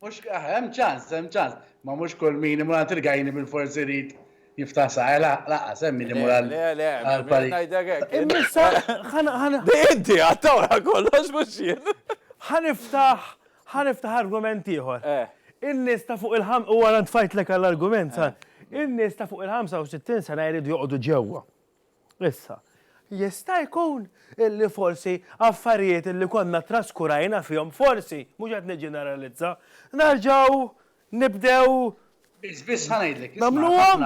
Mhux ah, hemm ċans, hemm ċans. Ma mhux kull min imur għand il-gajni bil-fors irid jiftaħ saħħa, eh, la- laqqas hemm min imur għal Le, le, għal minn parir. ngħidlek hekk. jien. Immissa ħan- ħan- Di inti għad tawra kollox mhux jien. ħaniftaħ ħaniftaħ argument ieħor. Eh. In-nies ta' fuq il-ħam- u ara ntfajtlek għall-argument, sa. In-nies ta' fuq il-65 sena jridu joqogħdu ġewwa. Issa, jista' jkun illi forsi affarijiet illi konna traskurajna fihom, forsi, mhux qed niġġeneralizza, nerġgħu nibdew nagħmluhom?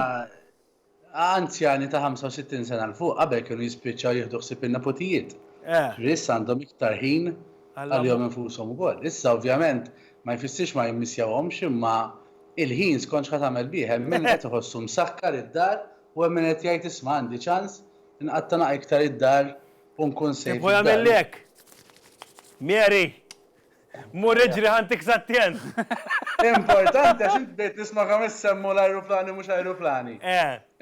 Anzjani ta' 65 sena 'l fuq qabel kienu jispiċċaw jieħdu ħsieb in-neputijiet. Ġifieri issa għandhom iktar ħin għalihom infushom ukoll. Issa ovvjament ma jfissirx ma jimmissjawhomx imma l-ħin skont x'ħa tagħmel bih, hemm min qed iħossu msakkar id-dar U hemm min qed jgħid isma' għandi ċans inqatta' naq iktar id-dar u nkun safe id-dar. Ieħor jagħmilli hekk. Mary! Mur iġri ħa ntik s'attent! Importanti għax int bdejt nisma' kemm issemmu l-ajruplani mhux ajruplani.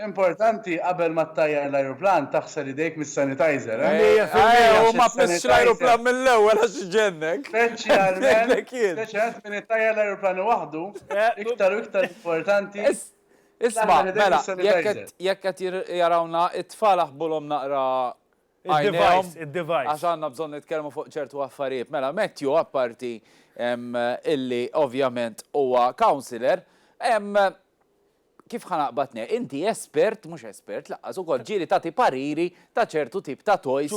Importanti qabel ma ttajjar l-ajruplan taħsel idejk mis-sanitizer, eh? Mija fil-mija! U ma tmissx l-ajruplan mill-ewwel għax iġennek. Speċjalment min ittajjar l-ajruplani waħdu iktar u iktar importanti Isma, mela, jekk qed jarawna, it-tfal aħbulhom naqra għajnejhom. Għax għandna bżonn nitkellmu fuq ċertu affarijiet. Mela, Matthew apparti illi ovvjament huwa counselor, kif ħanaqbad ne, inti espert, mhux espert, laqqas ukoll ġieli tagħti pariri ta' ċertu tip ta' toys,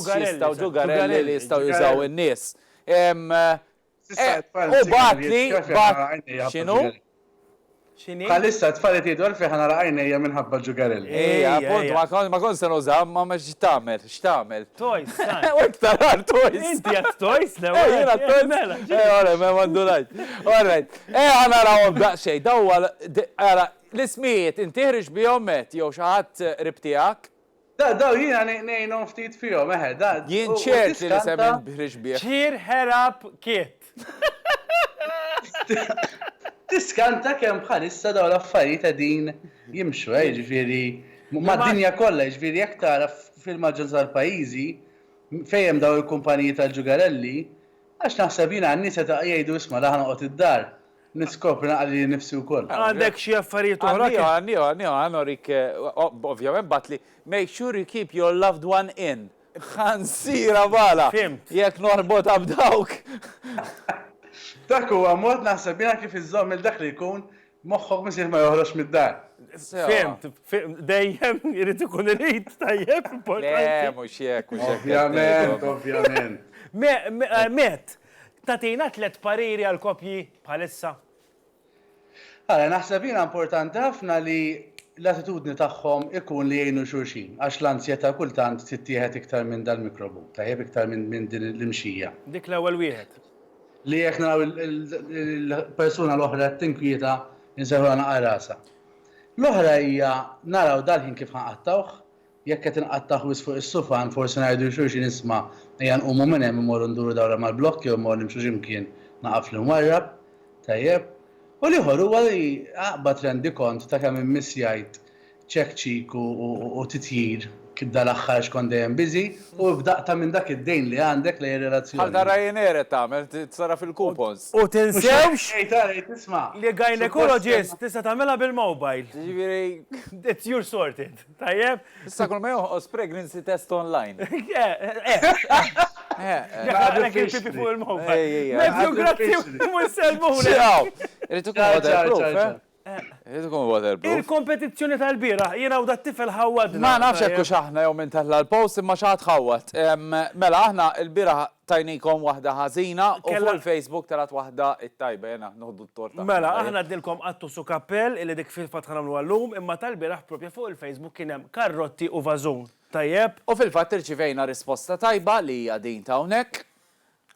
ġugarelli li jistgħu jużaw in-nies. U batli xinu? Xini? Bħalissa t-tfal qed jgħidu għalfejn nara għajnejja minħabba l-ġugarelli. Ej, appunt, ma kon ma kon se nuża, ma ma x'tagħmel, x'tagħmel. Toys, ta. U iktar għal toys. Inti għat toys, le. Ej, jiena toys. Mela. Ej, ora, ma mandulajt. Alright. Ej, għana rawhom daqsxejn, daw għal, għala, l-ismijiet, inti ħriġ bihom met, jew xi ħadd qrib tiegħek? Daw jiena ngħinhom ftit fihom, eħe, da. Jien ċert li l-isem li nb'ħriġ bih. Cheer her up Kit. Tiskanta kemm bħalissa dawn l-affarijiet qegħdin jimxu, eh, jiġifieri mad-dinja kollha, jiġifieri jekk tara fil-maġġoranza tal-pajjiżi fejn hemm dawn il-kumpaniji tal-ġugarelli, għax naħseb jiena n-nies qed jgħidu isma' l-aħħar noqgħod id-dar, Niskopri naqra lili nnifsi wkoll. Għandek xi affarijiet oħra? Għandi, għandi, għandi, ħa norik, ovvjament bagħatli, make sure you keep your loved one in. Ħansiera bala! Fhimt. Jekk norbotha b'dawk. Dak huwa mod naħseb jiena kif iżżomm lil dak li jkun moħħok missier ma joħroġx mid-dar. Fhimt, fhimt, dejjem irid ikun irid, tajjeb, importanti. Le, mhux hekk, mhux hekk. Ovvjament, ovvjament. Met, Tagħtina tliet pariri għal koppji bħalissa? Ara, naħseb jiena importanti ħafna li l-attitudni tagħhom ikun li jgħinu xulxin, għax l-anzjetà kultant tittieħed iktar minn dal-mikrobu, tajjeb, iktar minn din l-imxija. Dik l-ewwel wieħed. Li jekk naraw il-persuna l-oħra qed tinkwieta, insejħulha naqar rasha. L-oħra hija naraw dal-ħin kif ħa nqattgħuh, Jekk qed inqattah wisq fuq is-sufan, forsi ngħidu lil xulxin isma' ejja nqumu minn hemm immorru nduru dawra mal-blokk jew immorru nimxu xi mkien naqaf li nwarrab. Tajjeb. U l-ieħor huwa li aqbad rendikont ta' kemm immiss jgħid ċekċik u titjir dal-aħħar għax kont dejjem busy u b'daqqa minn dak id-dejn li għandek lejn ir-relazzjoni. Bħal ta' Ryanair qed tagħmel, tisarraf il-coupons. U tinsewx li gynaecologist tista' tagħmilha bil-mobile. Jiġifieri. It's your sorted. Tajjeb. Issa kull ma jonqos pregnancy test online. Għadek il-pipi fuq il-mobba. Mezzu grazzi u mselmu. Ċaw. Rritu kun waterproof. Rritu kun waterproof. Il-kompetizzjoni tal-bira, jena u dat tifel ħawad. Ma nafx ekku xaħna jew minn tella l-post imma xaħat ħawad. Mela aħna il-bira Tajnikom waħda ħażina u fuq il-Facebook telgħet waħda t-tajba jena noħdu t-torta. Mela aħna għednilkom qattus u kappell illi dik fil-fatt ħa nagħmluha llum imma tal-bieraħ propja fuq il-Facebook kien hemm karrotti u vażun. Tajjeb? U fil-fatt irċivejna risposta tajba li hija din ta' hawnhekk.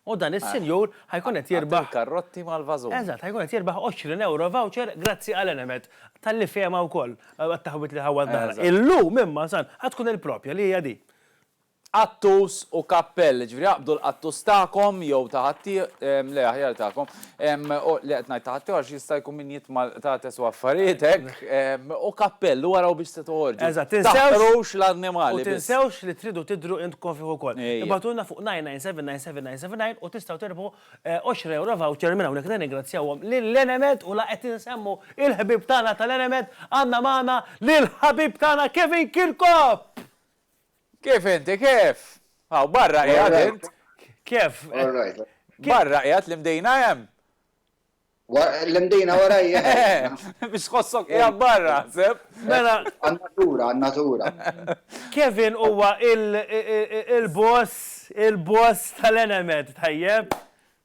U dan is-sinjur ħa jkun qed jirbaħ. Għad il-karrotti mal-vażun. Eżatt, ħa jkun qed jirbaħ 20 ewro voucher grazzi għal Enemed talli fehimha wkoll għat-taħwid li ħawwadna aħna. Illum imma san ħa tkun il-propja li hija din. Qattus u kappell, jiġifieri aqbdu l-qattus tagħkom jew ta' ħaddie, le aħjar tagħkom, u, le qed ngħid ta' ħaddieħor għax jista' jkun min jitma' l-qtates u affarijiet hekk, u kappell u araw biex se toħorġu. Eżatt, tinsewx. Taħqrux l-annimali biss. U tinsewx li tridu tidhru int kofih ukoll. Ejja. Ibgħatulna fuq 9979779 u tistgħu tirbħu għoxra ewro voucher minn hawnhekk. Nirringrazzjawhom lil Enemed u la qed insemmu l-ħbieb tagħna tal-Enemed, għandna magħna lill-ħabib tagħna Kevin Kirkop! Kif inti, kif? Hawn barra qiegħed int. Kif? Barra qiegħed l-imdejna hemm. L-imdejna warajja. Biex tħossok qiegħed barra, seb? Mela. Għan-natura, għan-natura. Kevin huwa il-boss, il-boss tal-element, tajjeb?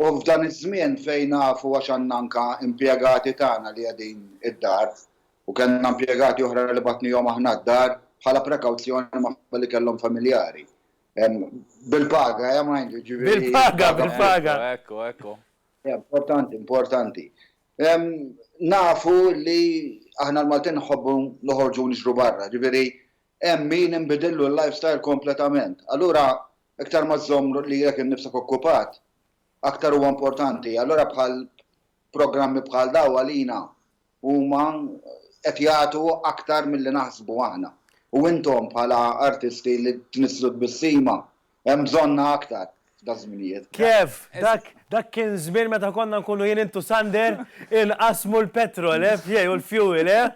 U f'dan iż-żmien fejn nafu għax għandna anke impjegati tagħna li qegħdin id-dar u kellna impjegati oħra li bagħtnihom aħna d-dar bħala prekawzjoni minħabba li kellhom familjari bil-paga eh mind you ġifieri Bil-paga, bil-paga. Ekku, ekku. Importanti, importanti. Nafu li aħna l-Maltin nħobbu noħorġu u nixru barra, ġifieri hemm min inbidillu l-lifestyle kompletament. Allura iktar ma żżomm lilek innifsek okkupat, aktar huwa importanti. Allura bħal programmi bħal dawn għalina huma qed jagħtu aktar milli naħsbu aħna. U intom bħala artisti li tnisslu tbissima Hemm bżonnha aktar f'daż-żminijiet. Kev, dak, dak kien żmien meta konna nkunu jien int u Sander inqassmu l-petrol, eh, f'jej u l-fuel, eh?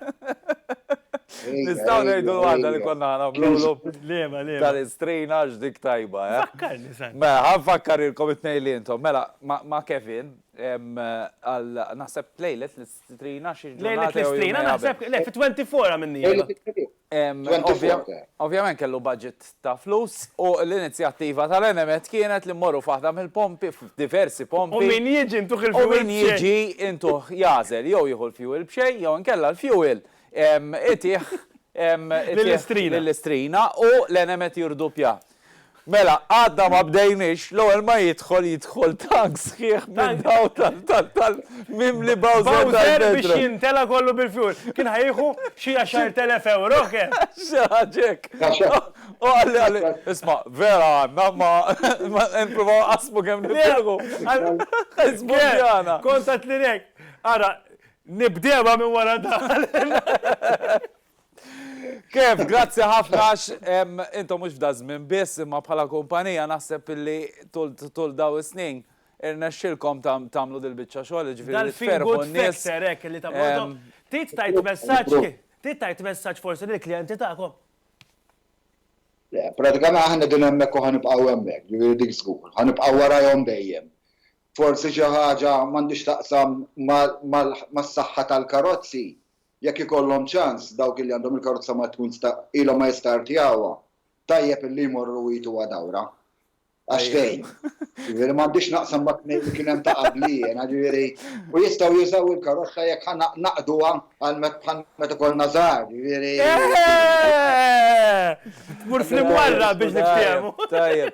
Nistgħu ngħidu l-waħda li konna ħanagħmlulu? Liema, liema? Tal-istrina għax dik tajba, eh? Fakkarni, Sander. Mela, ħa nfakkarilkom it-tnejn li intom. Mela, ma', ma' Kevin, ehm, għal, naħseb lejlet l-istrina xi ġurnata jew jumejn qabel. Lejlet l-istrina, naħseb, le, fit-24 għamilniha. Lejlet it-Tliet. Ovvjament kellu budget ta' flus u l-inizjattiva tal-Enemed kienet li mmorru f'waħda mill-pompi, f'diversi pompi. U min jiġi intuh il-fuel b'xejn. U min jiġi intuh jagħżel jew jieħu l-fuel b'xejn jew inkella l-fuel itih lill-istrina. Lill-istrina u l-Enemed jirduppja. Mela, għadna ma bdejniex, l-ewwel ma jidħol jidħol tank sħiħ minn dawn tal-tal-tal mimli Bowser tal-Bowser biex jimtela kollu bil-fuel. Kien ħa jieħu xi 10,000 ewro kemm. Xi ħaġa hekk. U qalli qalli, isma' vera għandna ma nipprovaw nqassmu kemm nifilħu. Żbunjana. Kont għedtlilek, ara nibdewha minn wara dan. Kev, grazzi ħafna għax intom mhux f'da żmien biss imma bħala kumpanija naħseb illi tul daw is-snin irnexxilkom tagħmlu dil-biċċa xogħol, ġifieri tferħu n-nies. Trid tajt messaġġ, trid tajt messaġġ forsi lill-klijenti tagħkom. Le, pratikament aħna din hemmhekk u ħanibqgħu hemmhekk, ġifieri dik żgur, ħanibqgħu warajhom dejjem. Forsi xi ħaġa m'għandhiex taqsam mas-saħħa tal-karozzi, Jekk ikollhom ċans, dawk li għandhom il-karozza mat-twins ta' ilhom ma jistartjawha, tajjeb illi jmorru jgħituha dawra. Għax tgħin. Jiġifieri m'għandix naqsam mat-tnejn li kien hemm ta' qabli jiena, jiġifieri u jistgħu jużaw il-karozza jekk ħa naqduha għal bħal meta kollna żgħar, jiġifieri. Tmur fl-imwarrab biex niftiehmu. Tajjeb.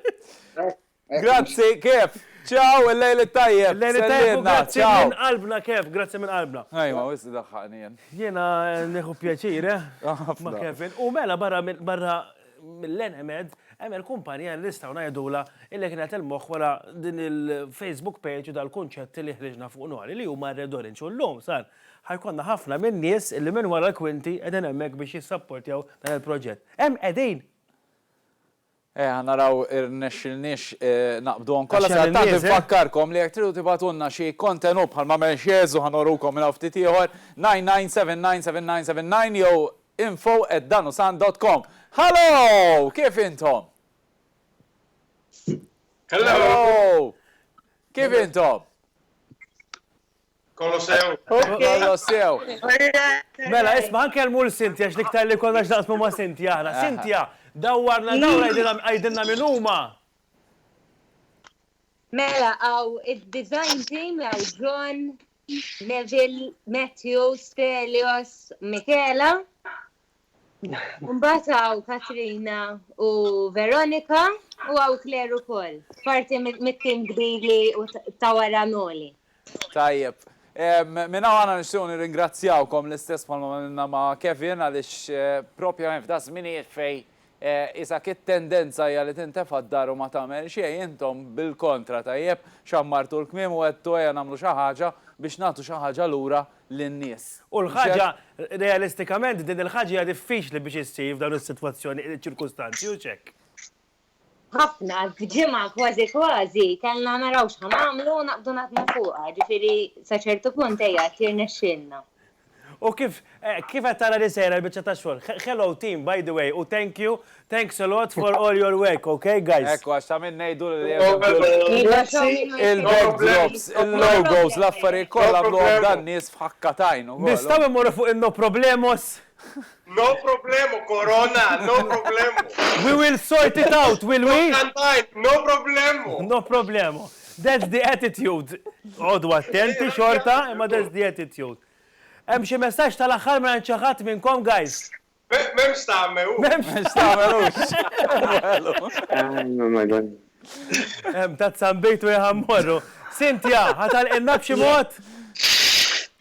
Grazzi, Kev. Ciao, il-lejl it-tajjeb. Il-lejl it-tajjeb u grazzi minn qalbna, Kev. Grazzi minn qalbna. Ajwa, wisq iddaħħaqni jien. Jiena nieħu pjaċir, eh? Ħafna. Ma' Kevin. U mela barra mill-Enemed, hemm il-kumpanija li nistgħu ngħidulha illi kienet il-moħħ wara din il-Facebook page u dal-kunċett li ħriġna fuq Noli li huma Red Orange. U llum sar ħajkollna ħafna minn nies illi minn wara l-kwinti qegħdin hemmhekk biex jissapportjaw dan il-proġett. Hemm qegħdin! Eh, ħa naraw irnexxilniex naqbduhom kollha. Sa tant infakkarkom li jekk tridu tibgħatulna xi kontenut bħal ma għamel Xezu ħa norukom minn hawn ftit ieħor 997979 jew info@danusan.com. Hallo! Kif intom? Hello! Kif intom? Kolossew. Kolossew. Mela, isma' nkellmu l Sinti għax l-iktar li konna x'naqsmu ma' Sinti aħna. Sintja, dawwarna dawl għidilna min huma. Mela, għaw id-design team għaw John, Neville, Matthew, Stelios, Michela. Mbagħad hawn Katrina u Veronika u hawn Claire ukoll. Parti mit-tim kbiri u ta' wara Noli. Tajjeb. Minn hawn aħna nixtiequ nirringrazzjawkom l-istess bħalma għamilna ma' Kevin għaliex propjament f'daż-żminijiet fejn Isak it-tendenza hija li tintefa' d-dar u ma tagħmel xejn, intom bil-kontra tajjeb, xammartu l-kmiem u għedtu ejja nagħmlu xi ħaġa biex nagħtu xi ħaġa lura lin-nies. U l-ħaġa, realistikament din il-ħaġa hija diffiċli biex issir f'dawn is-sitwazzjoni, ċirkustanzi u x'hekk. Ħafna, f'ġimgħa kważi kważi kellna naraw x'ħa nagħmlu u naqbdu naħdmu fuqha, jiġifieri sa ċertu punt ejja qed jirnexxielna. U kif kif qed tara li sejra l-biċċa tax-xogħol? Hello team by the way u thank you, thanks a lot for all your work ok guys. Ekku għax ta' min ngħidu li hemm il-backdrops, il-backdrops, il-logos, l-affarijiet kollha għamluhom dan nies f'ħakka t'għajn ukoll. Nistgħu mmorru fuq in-no problemos? No problemu Corona, no problemu. We will sort it out, will we? No problemu. No problemu. That's the attitude. Għodu attenti xorta, imma that's the attitude. Hemm xi messaġġ tal-aħħar minn xi ħadd minnkom guys? M'hemmx tagħmel hu. M'hemmx tagħmel hu. Oh my god. Hemm ta' tzambejtu jaħammorru. Sintja, ħa tagħlqilna b'xi mod?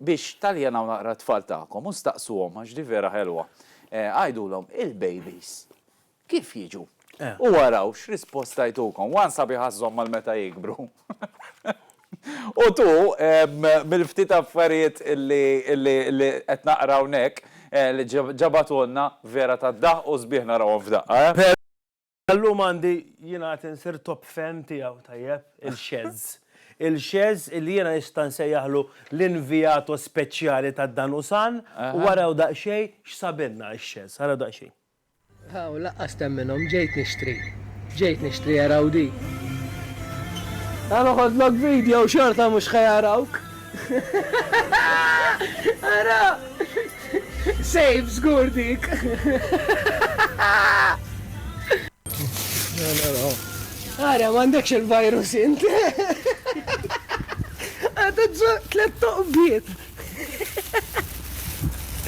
Biex taljanaw naqra t-tfal tagħkom u staqsuhom, għax din vera ħelwa, għidulhom, Il-bejbis kif jiġu? U araw x'risposta jtukom. One sabiħ għażżhom għal meta jikbru. U tu, mill-ftit affarijiet li qed naqra hawnhekk, li ġabatulna, vera tad-daħq u sbieħ narawhom f'daqqa, eh? Illum għandi jingħad insir top fan tiegħu, tajjeb, il-Xeż. Il-Xeż illi jiena nista' nsejjaħlu l-inviato speċjali ta' dan u san u araw daqsxejn x'sabilna x-Xeż. Araw daqsxejn. Hawn laqqas temminhom ġejt nixtri. Ġejt nixtri araw din. Ħa noħodlok video xorta mhux ħa jarawk. Ara! Sejf żgur dik! Ara, m'għandekx il-virus int! Għadha tżoq tliet toqbiet!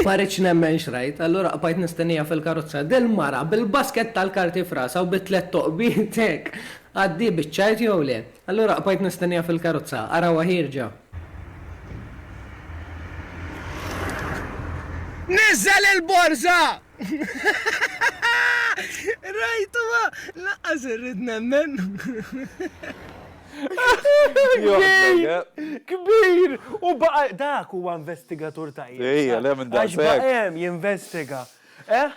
Ma rridx nemmen x'rajt, allura qbajt nistennija fil-karozza. Dil-mara bil-basket tal-karti f'rasha u bi tliet toqbiet hekk. Għaddi biċ-ċajt jew le? Allura qbajt nistenniha fil-karozza. Arawha ħierġa. Niżżel il-borża! Rajtuha! Lanqas irrid nemmen. Kbir! Kbir! U baqa' dak huwa investigatur tajjeb. Ejja, le minn daqshekk. Għax baqa' hemm jinvestiga. Eh?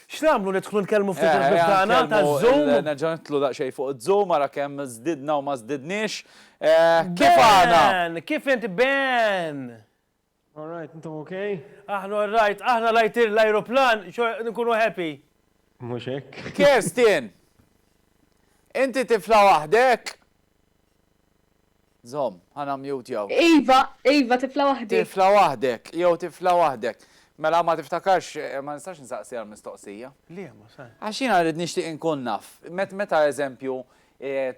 X'nagħmlu nidħlu nkellmu ftit il-ħbieb tagħna taż-Zoom? Nerġa' nidħlu daqsxejn fuq iż-Zoom ara kemm żdidna u ma żdidniex. Kif għana? Ben! Kif int Ben? All right, intom ok? Aħna all right, aħna rajt l-ajruplan, nkunu happy. Mhux hekk. Kerstin! Inti tifla waħdek? Zomm, ha nammjutjaw. Iva, iva, tifla waħdi. Tifla waħdek, jew tifla waħdek. Mela ma tiftakarx, ma nistax insaqsi għall-mistoqsija. Le, ma se. Għax jiena rrid nixtieq inkun naf. Meta eżempju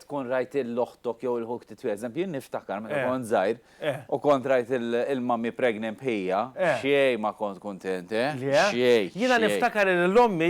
tkun rajt lil oħtok jew lil ħuk titwieled, eżempju jien niftakar meta kont żgħir u kont rajt lil mummy pregnant bħija, xejn ma kont kuntent, eh, xejn. Jiena niftakar li lil ommi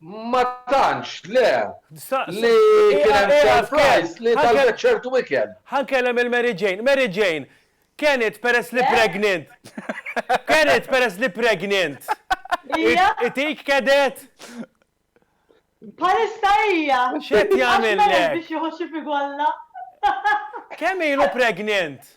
Ma tantx, le. Li kien hemm surprise li talbet ċertu ikel. Ħa nkellem il-Mary Jane. Mary Jane, Kenneth peress li pregnant. Kenneth peress li pregnant. Itik kedet? Bħalissa hija. X'qed jagħmilek? Biex jieħu xi figwalla. Kemm ilu pregnant?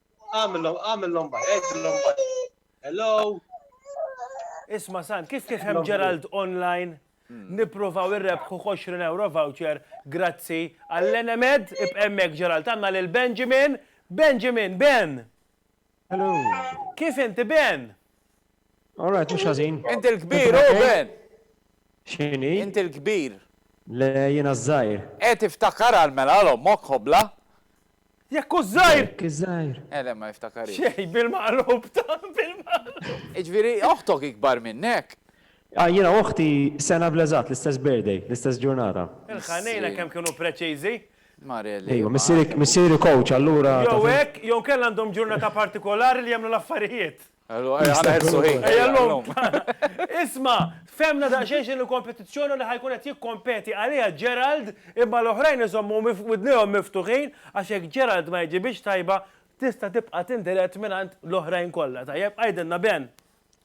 Għamillhom, għamillhom baj, għidillhom baj. Hello. Isma San, kif kif hemm Gerald online? Hmm. Nipruvaw irrebħu 20 euro voucher, grazzi għall-enemed, ibqemmek Gerald, għanna lil Benjamin, Benjamin, Ben! Hello. Kif inti Ben? All right, mux ħazin. Inti l-kbir, u oh, Ben! Xini? Inti l-kbir. Le jina zzajr. E tiftakar għal-mela l-ommok hobla? Jekk hu żgħir! Jekk hi żgħir! Eh le, ma jiftakarhiex. Xejn, bil-maqlub ta' bil-maqlub. Jiġifieri oħtok ikbar minnek? Ah, jiena u oħti sena bl-eżatt, l-istess birthday, l-istess ġurnata. Il-ħanejna kemm kienu preċiżi! Mareli. Ejwa, missieri, missieri coach allura. Jew hekk, jew inkella għandhom ġurnata partikolari li jagħmlu l-affarijiet. Isma', fehmna daqsxejn x'inhi l-kompetizzjoni u li ħa jkun qed jikkompeti għaliha Gerald, imma l-oħrajn iżommu widnejhom miftuħin għax jekk Gerald ma jġibhiex tajba, tista' tibqa' tindirett mingħand l-oħrajn kollha. Tajjeb, għidilna Ben!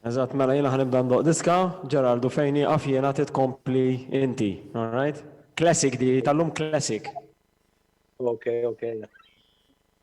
Eżatt, mela jiena ħa nibda ndoqq diska, Gerald, u fejn nieqaf jiena trid tkompli inti. All right? Classic di, tallum classic. Okej, okej.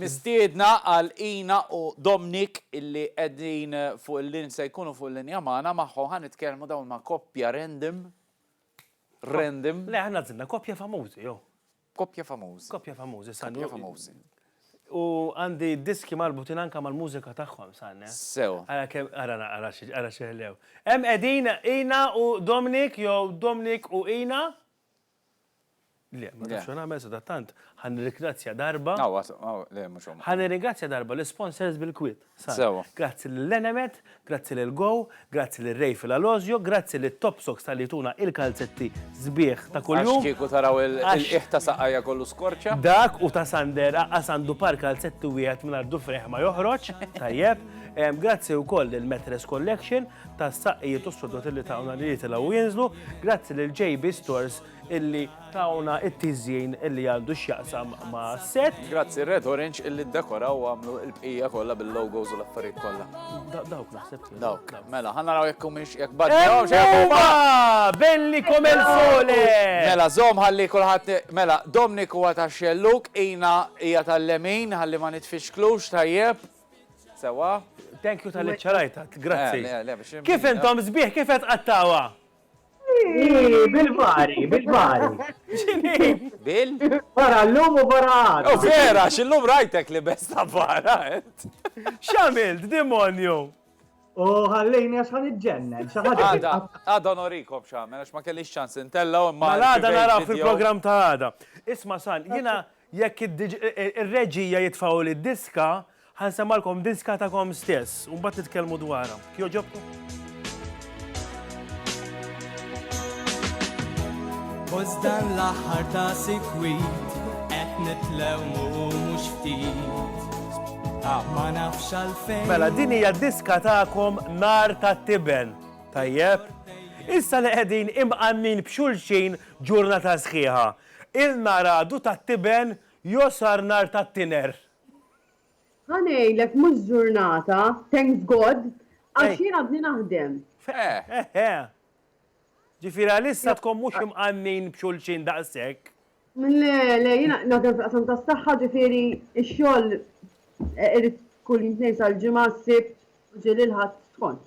Mistiedna għal Ina u Domnic illi qegħdin fuq il-lin se jkunu fuq il-linja magħna magħhom ħa nitkellmu dawn ma' koppja random random. Le aħna għażilna koppja famużi jew. Koppja famużi. Koppja famużi sa. Koppja famużi. U għandi diski marbutin anke mal-mużika tagħhom sa. Sew. Ara kemm ara ara xi ara xi ħlew. Hemm qegħdin Ina u Domnic jew Domnic u Ina. Le, ma nafx nagħmel sadattant, ħa nirringrazzja darba. Aw, aw, le, mhux huma. Ħa nirringrazzja darba l-sponsors bil-kwiet. Sewa. Grazzi lil Enemed, grazzi lil Go, grazzi lil Ray fil-Alozio, grazzi lit Top Socks tal-li jtuna il-kalzetti sbieħ ta' kuljum. Għax kieku taraw il-qiegħ ta' saqajja kollu skorċja. Dak u ta' Sander aqqas għandu par kalzetti wieħed mingħajr dufrejh ma joħroġ, tajjeb. Grazzi wkoll lil Metres Collection, tas-saqqijiet u s-sodod illi tawna li jitilgħu u jinżlu, grazzi lil JB Stores illi tawna t-tiżjin illi għandu x'jaqsam mas-set. Grazzi Red Orange illi ddekoraw u għamlu l-bqija kollha bil-logos u l-affarijiet kollha. Dawk naħseb. Dawk. Mela, ħa naraw jekk humiex jekk badilhomx jew huma. Ewwa! Belli come il sole! Mela, żomm ħalli kulħadd mela, Dominic huwa tax-xellug, Ina hija tal-lemin ħalli ma nitfixklux, tajjeb. Sewa? Thank you tal-li ċċarajta, grazzi. Eh, le, le, biex- Kif intom sbieħ, kif qed qattawa? Ii, Bil-bari, bil-bari. Bil? Bara l-lum u bara għad. Oh, vera, xillum rajtek li besta barra, ent. X'għamilt, demonju? U ħallejni għax ħan iġġennen. xi ħaġa Għada, titqaf- għada norikom xamen, għax ma kellix ċans intella u ma. Mal-għada naraw fil-programm ta' għada. Isma' San, jina Jekk ir-reġija jitfgħu lid-diska, ħa nsemmalkom diska tagħkom stess u mbagħad nitkellmu dwarha. Jogħġobkom? Post dan l-aħħar ta' sikwit qed nitlew mhux ftit. Ma nafx għalfejn. Mela din hija diska tagħkom nar tat-tiben. Tajjeb? Issa li qegħdin imqannin b'xulxin ġurnata sħiħa. Ilna ragħdu tat-tiben josar nar tat-tinher. Ħa ngħidlek mhux ġurnata, thanks God, għax jien għadni naħdem. Eħe. Ġifieri għalissa tkun mhux imqannin b'xulxin daqshekk. Le, le, jien naħdem fil-qasam tas-saħħa ġifieri x-xogħol irid kull jum tnejn sal-Ġimgħa, s-Sibt, Ġimgħa, l-Ħadd, skont.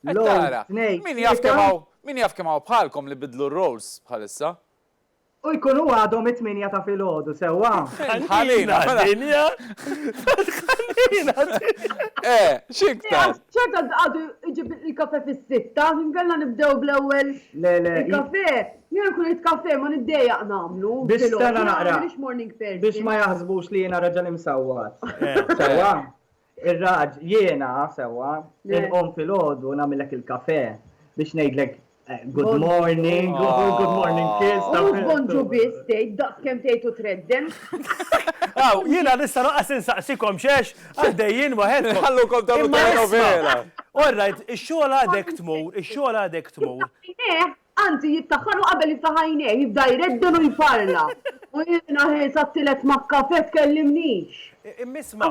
Qed tara, min jaf kemm hawn, min jaf kemm hawn bħalkom li bidlu r-roles bħalissa. U jkunu għadhom it-tmienja ta' filgħodu, sewwa? Ħalina, ħalina. Eh, x'iktar? ċerta għadu iġib il-kafe fis-sitta, nkella nibdew bl-ewwel il-kafe. Jien nkun irid kafe ma niddejjaq nagħmlu. Biex stana naqra. Biex ma jaħsbux li jiena raġel imsawwat. Sewwa? Ir-raġ, Jiena, sewwa, inqum filgħodu nagħmillek il-kafè biex ngħidlek good morning u l-good morning kiss. U mhux bonġu biss tgħid, daqs kemm tgħid u tredden. Aw, jiena nista' lanqas insaqsikom x'għex għaddejjin waħedkom. Ħallukom tagħmlu telenovela. Orrajt, ix-xogħol għadek tmur, ix-xogħol għadek tmur. Anzi, jiftaħħaru qabel jiftaħ għajnejh, jibda jredden u jparla. U jiena ħiesha t-tielet ma' kafè tkellimnix. Imma isma',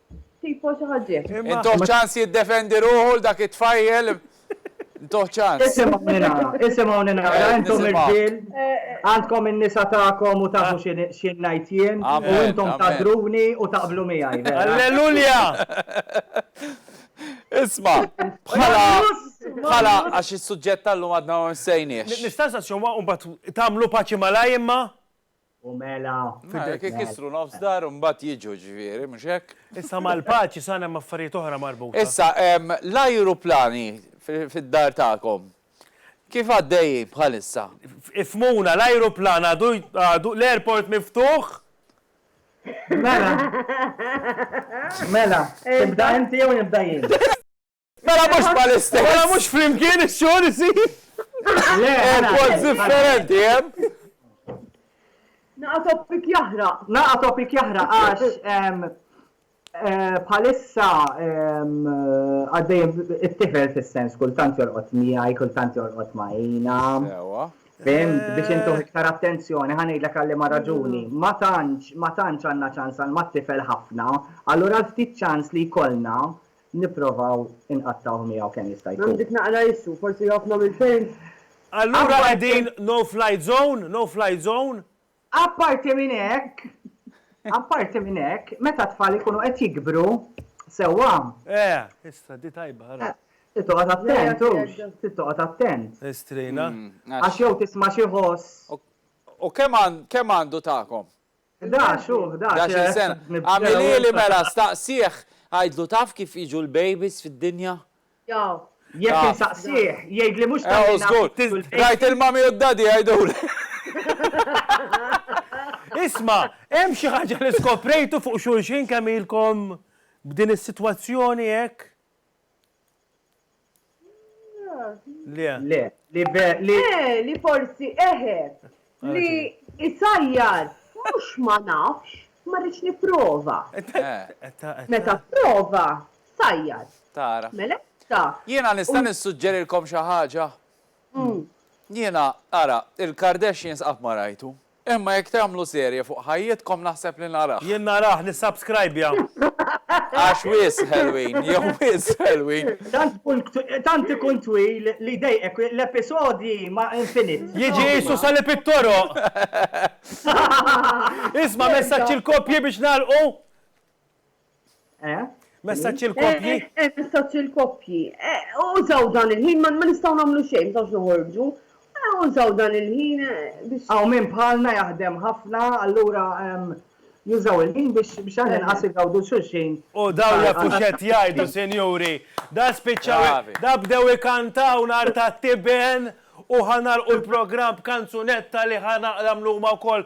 Tipo xi ħaġġiet. Intuħ ċans jiddefendi ruħu l dak it-tfajjel. Intuħ ċans. Isimgħuni nara, isimgħuni nara, intom irġiel, għandkom in-nisa tagħkom u tafu xi ngħid jien, u intom tadruni u taqblu miegħi. Allelulja! Isma, bħala bħala għax is-suġġett tal-lum għadna ma nsejniex. Nistaqsa xi huwa u mbagħad tagħmlu paċi malaj imma? U mela. Fidejk. Jekk ikissru nofs dar u mbagħad jiġu ġifieri, mhux hekk? Issa mal-paċi sar hemm affarijiet oħra marbuta. Issa, l-ajruplani fid-dar tagħkom kif għaddejjin bħalissa? Ifhmuna, l-ajruplan għadu għadu l-airport miftuħ? Mela. Mela. Tibda inti jew nibda jien? Mela mhux ma l-istess. Mela mhux flimkien ix-xogħol isir. Airports differenti, hemm. Naqa' topic jahra. Naqa' topic jahra għax Eh, bħalissa ehm, għaddej it-tifel fil-sens kultant jorqot miħaj, kultant jorqot maħina. Fim, biex intu eh. iktar attenzjoni, ħanejt l għalli ma raġuni. Mm. Ma tantx, ma tantx għanna ċans għal ma tifel ħafna, allura ftit ċans li jkollna nipprovaw inqattgħuh miegħu kemm jista' jkun. Għandik naqra issu, forsi jgħoffna mill-films. Allura qegħdin no fly zone, no fly zone? Apparti minn hekk, apparti minn hekk, meta t-tfal ikunu qed jikbru sewwa. Eh, issa di tajba ara. Trid toqgħod attent hux, trid toqgħod attent. Estrina. Għax jew tisma' xi ħoss. U kemm għandu tagħkom? Ħdax, hu, ħdax. Ħdax-il sena. Agħmilieli mela, staqsih, għidlu taf kif jiġu l-babies fid-dinja? Jaf. Jekk insaqsih, jgħidli mhux ta' min għandu l-baby. Ew, żgur. Rajt il-mommy u d-daddy jgħiduli. Isma', hemm xi ħaġa li skoprejtu fuq xulxin kemm ilkom b'din is-sitwazzjoni hekk? Le. Le. Li be. Li. Eh, li forsi eħe. Li isajjar. Mux ma nafx, ma rridx niprofa. Meta prova, sajjar. Tara. Mela, ta. Jiena nista' nissuġġerilkom xi ħaġa? Jiena, ara, il-Kardashians qatt ma rajtu. Imma jekk tagħmlu serje fuq ħajjitkom naħseb li narah. Jien narah, nissubscribja. Għax wisq ħelwin, jew wisq ħelwin. Tant ikun twil li jdejqek, l-episodji ma infinit. Jiġi qisu sali pit-toroq. Isma' messaġġ il-koppji biex nagħlqu? Eh? Messaċ il-koppji? Eh, eh, messaċ il-koppji. Użaw dan il-ħin, ma nistaw namlu xejn, tawx noħorġu. Użaw dan il-ħin biex. Għaw minn bħalna jaħdem ħafna, allura ehm, jużaw il-ħin biex biex għan inqas igawdu xulxin. U daw la fuxet jajdu, senjuri, da spiċċaw, da bdew ikantaw nar ta' tiben u ħanar u l-program b'kanzunetta li ħanar għamlu ma' kol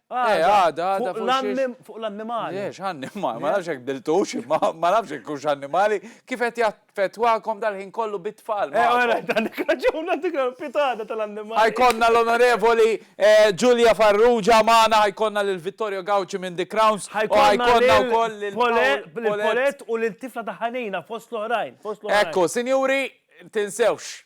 Eh, għada, għada fuq l-annim, fuq l-annimali. Eh, x'annimali, ma nafx hekk diltux, ma nafx hekk kux annimali, kif qed jaffettwakom dal-ħin kollu bit-tfal. Eh, għara, dan raġuna dik pitada tal-annimali. Ħajkonna l-onorevoli Ġulja eh, Farrugia magħna, ħajkonna lil Vittorio Gauci minn The Crowns, ħajkonna wkoll lil Polet u lil tifla ta' ħanina fost l-oħrajn, fost l-oħrajn. Ekku, sinjuri, tinsewx,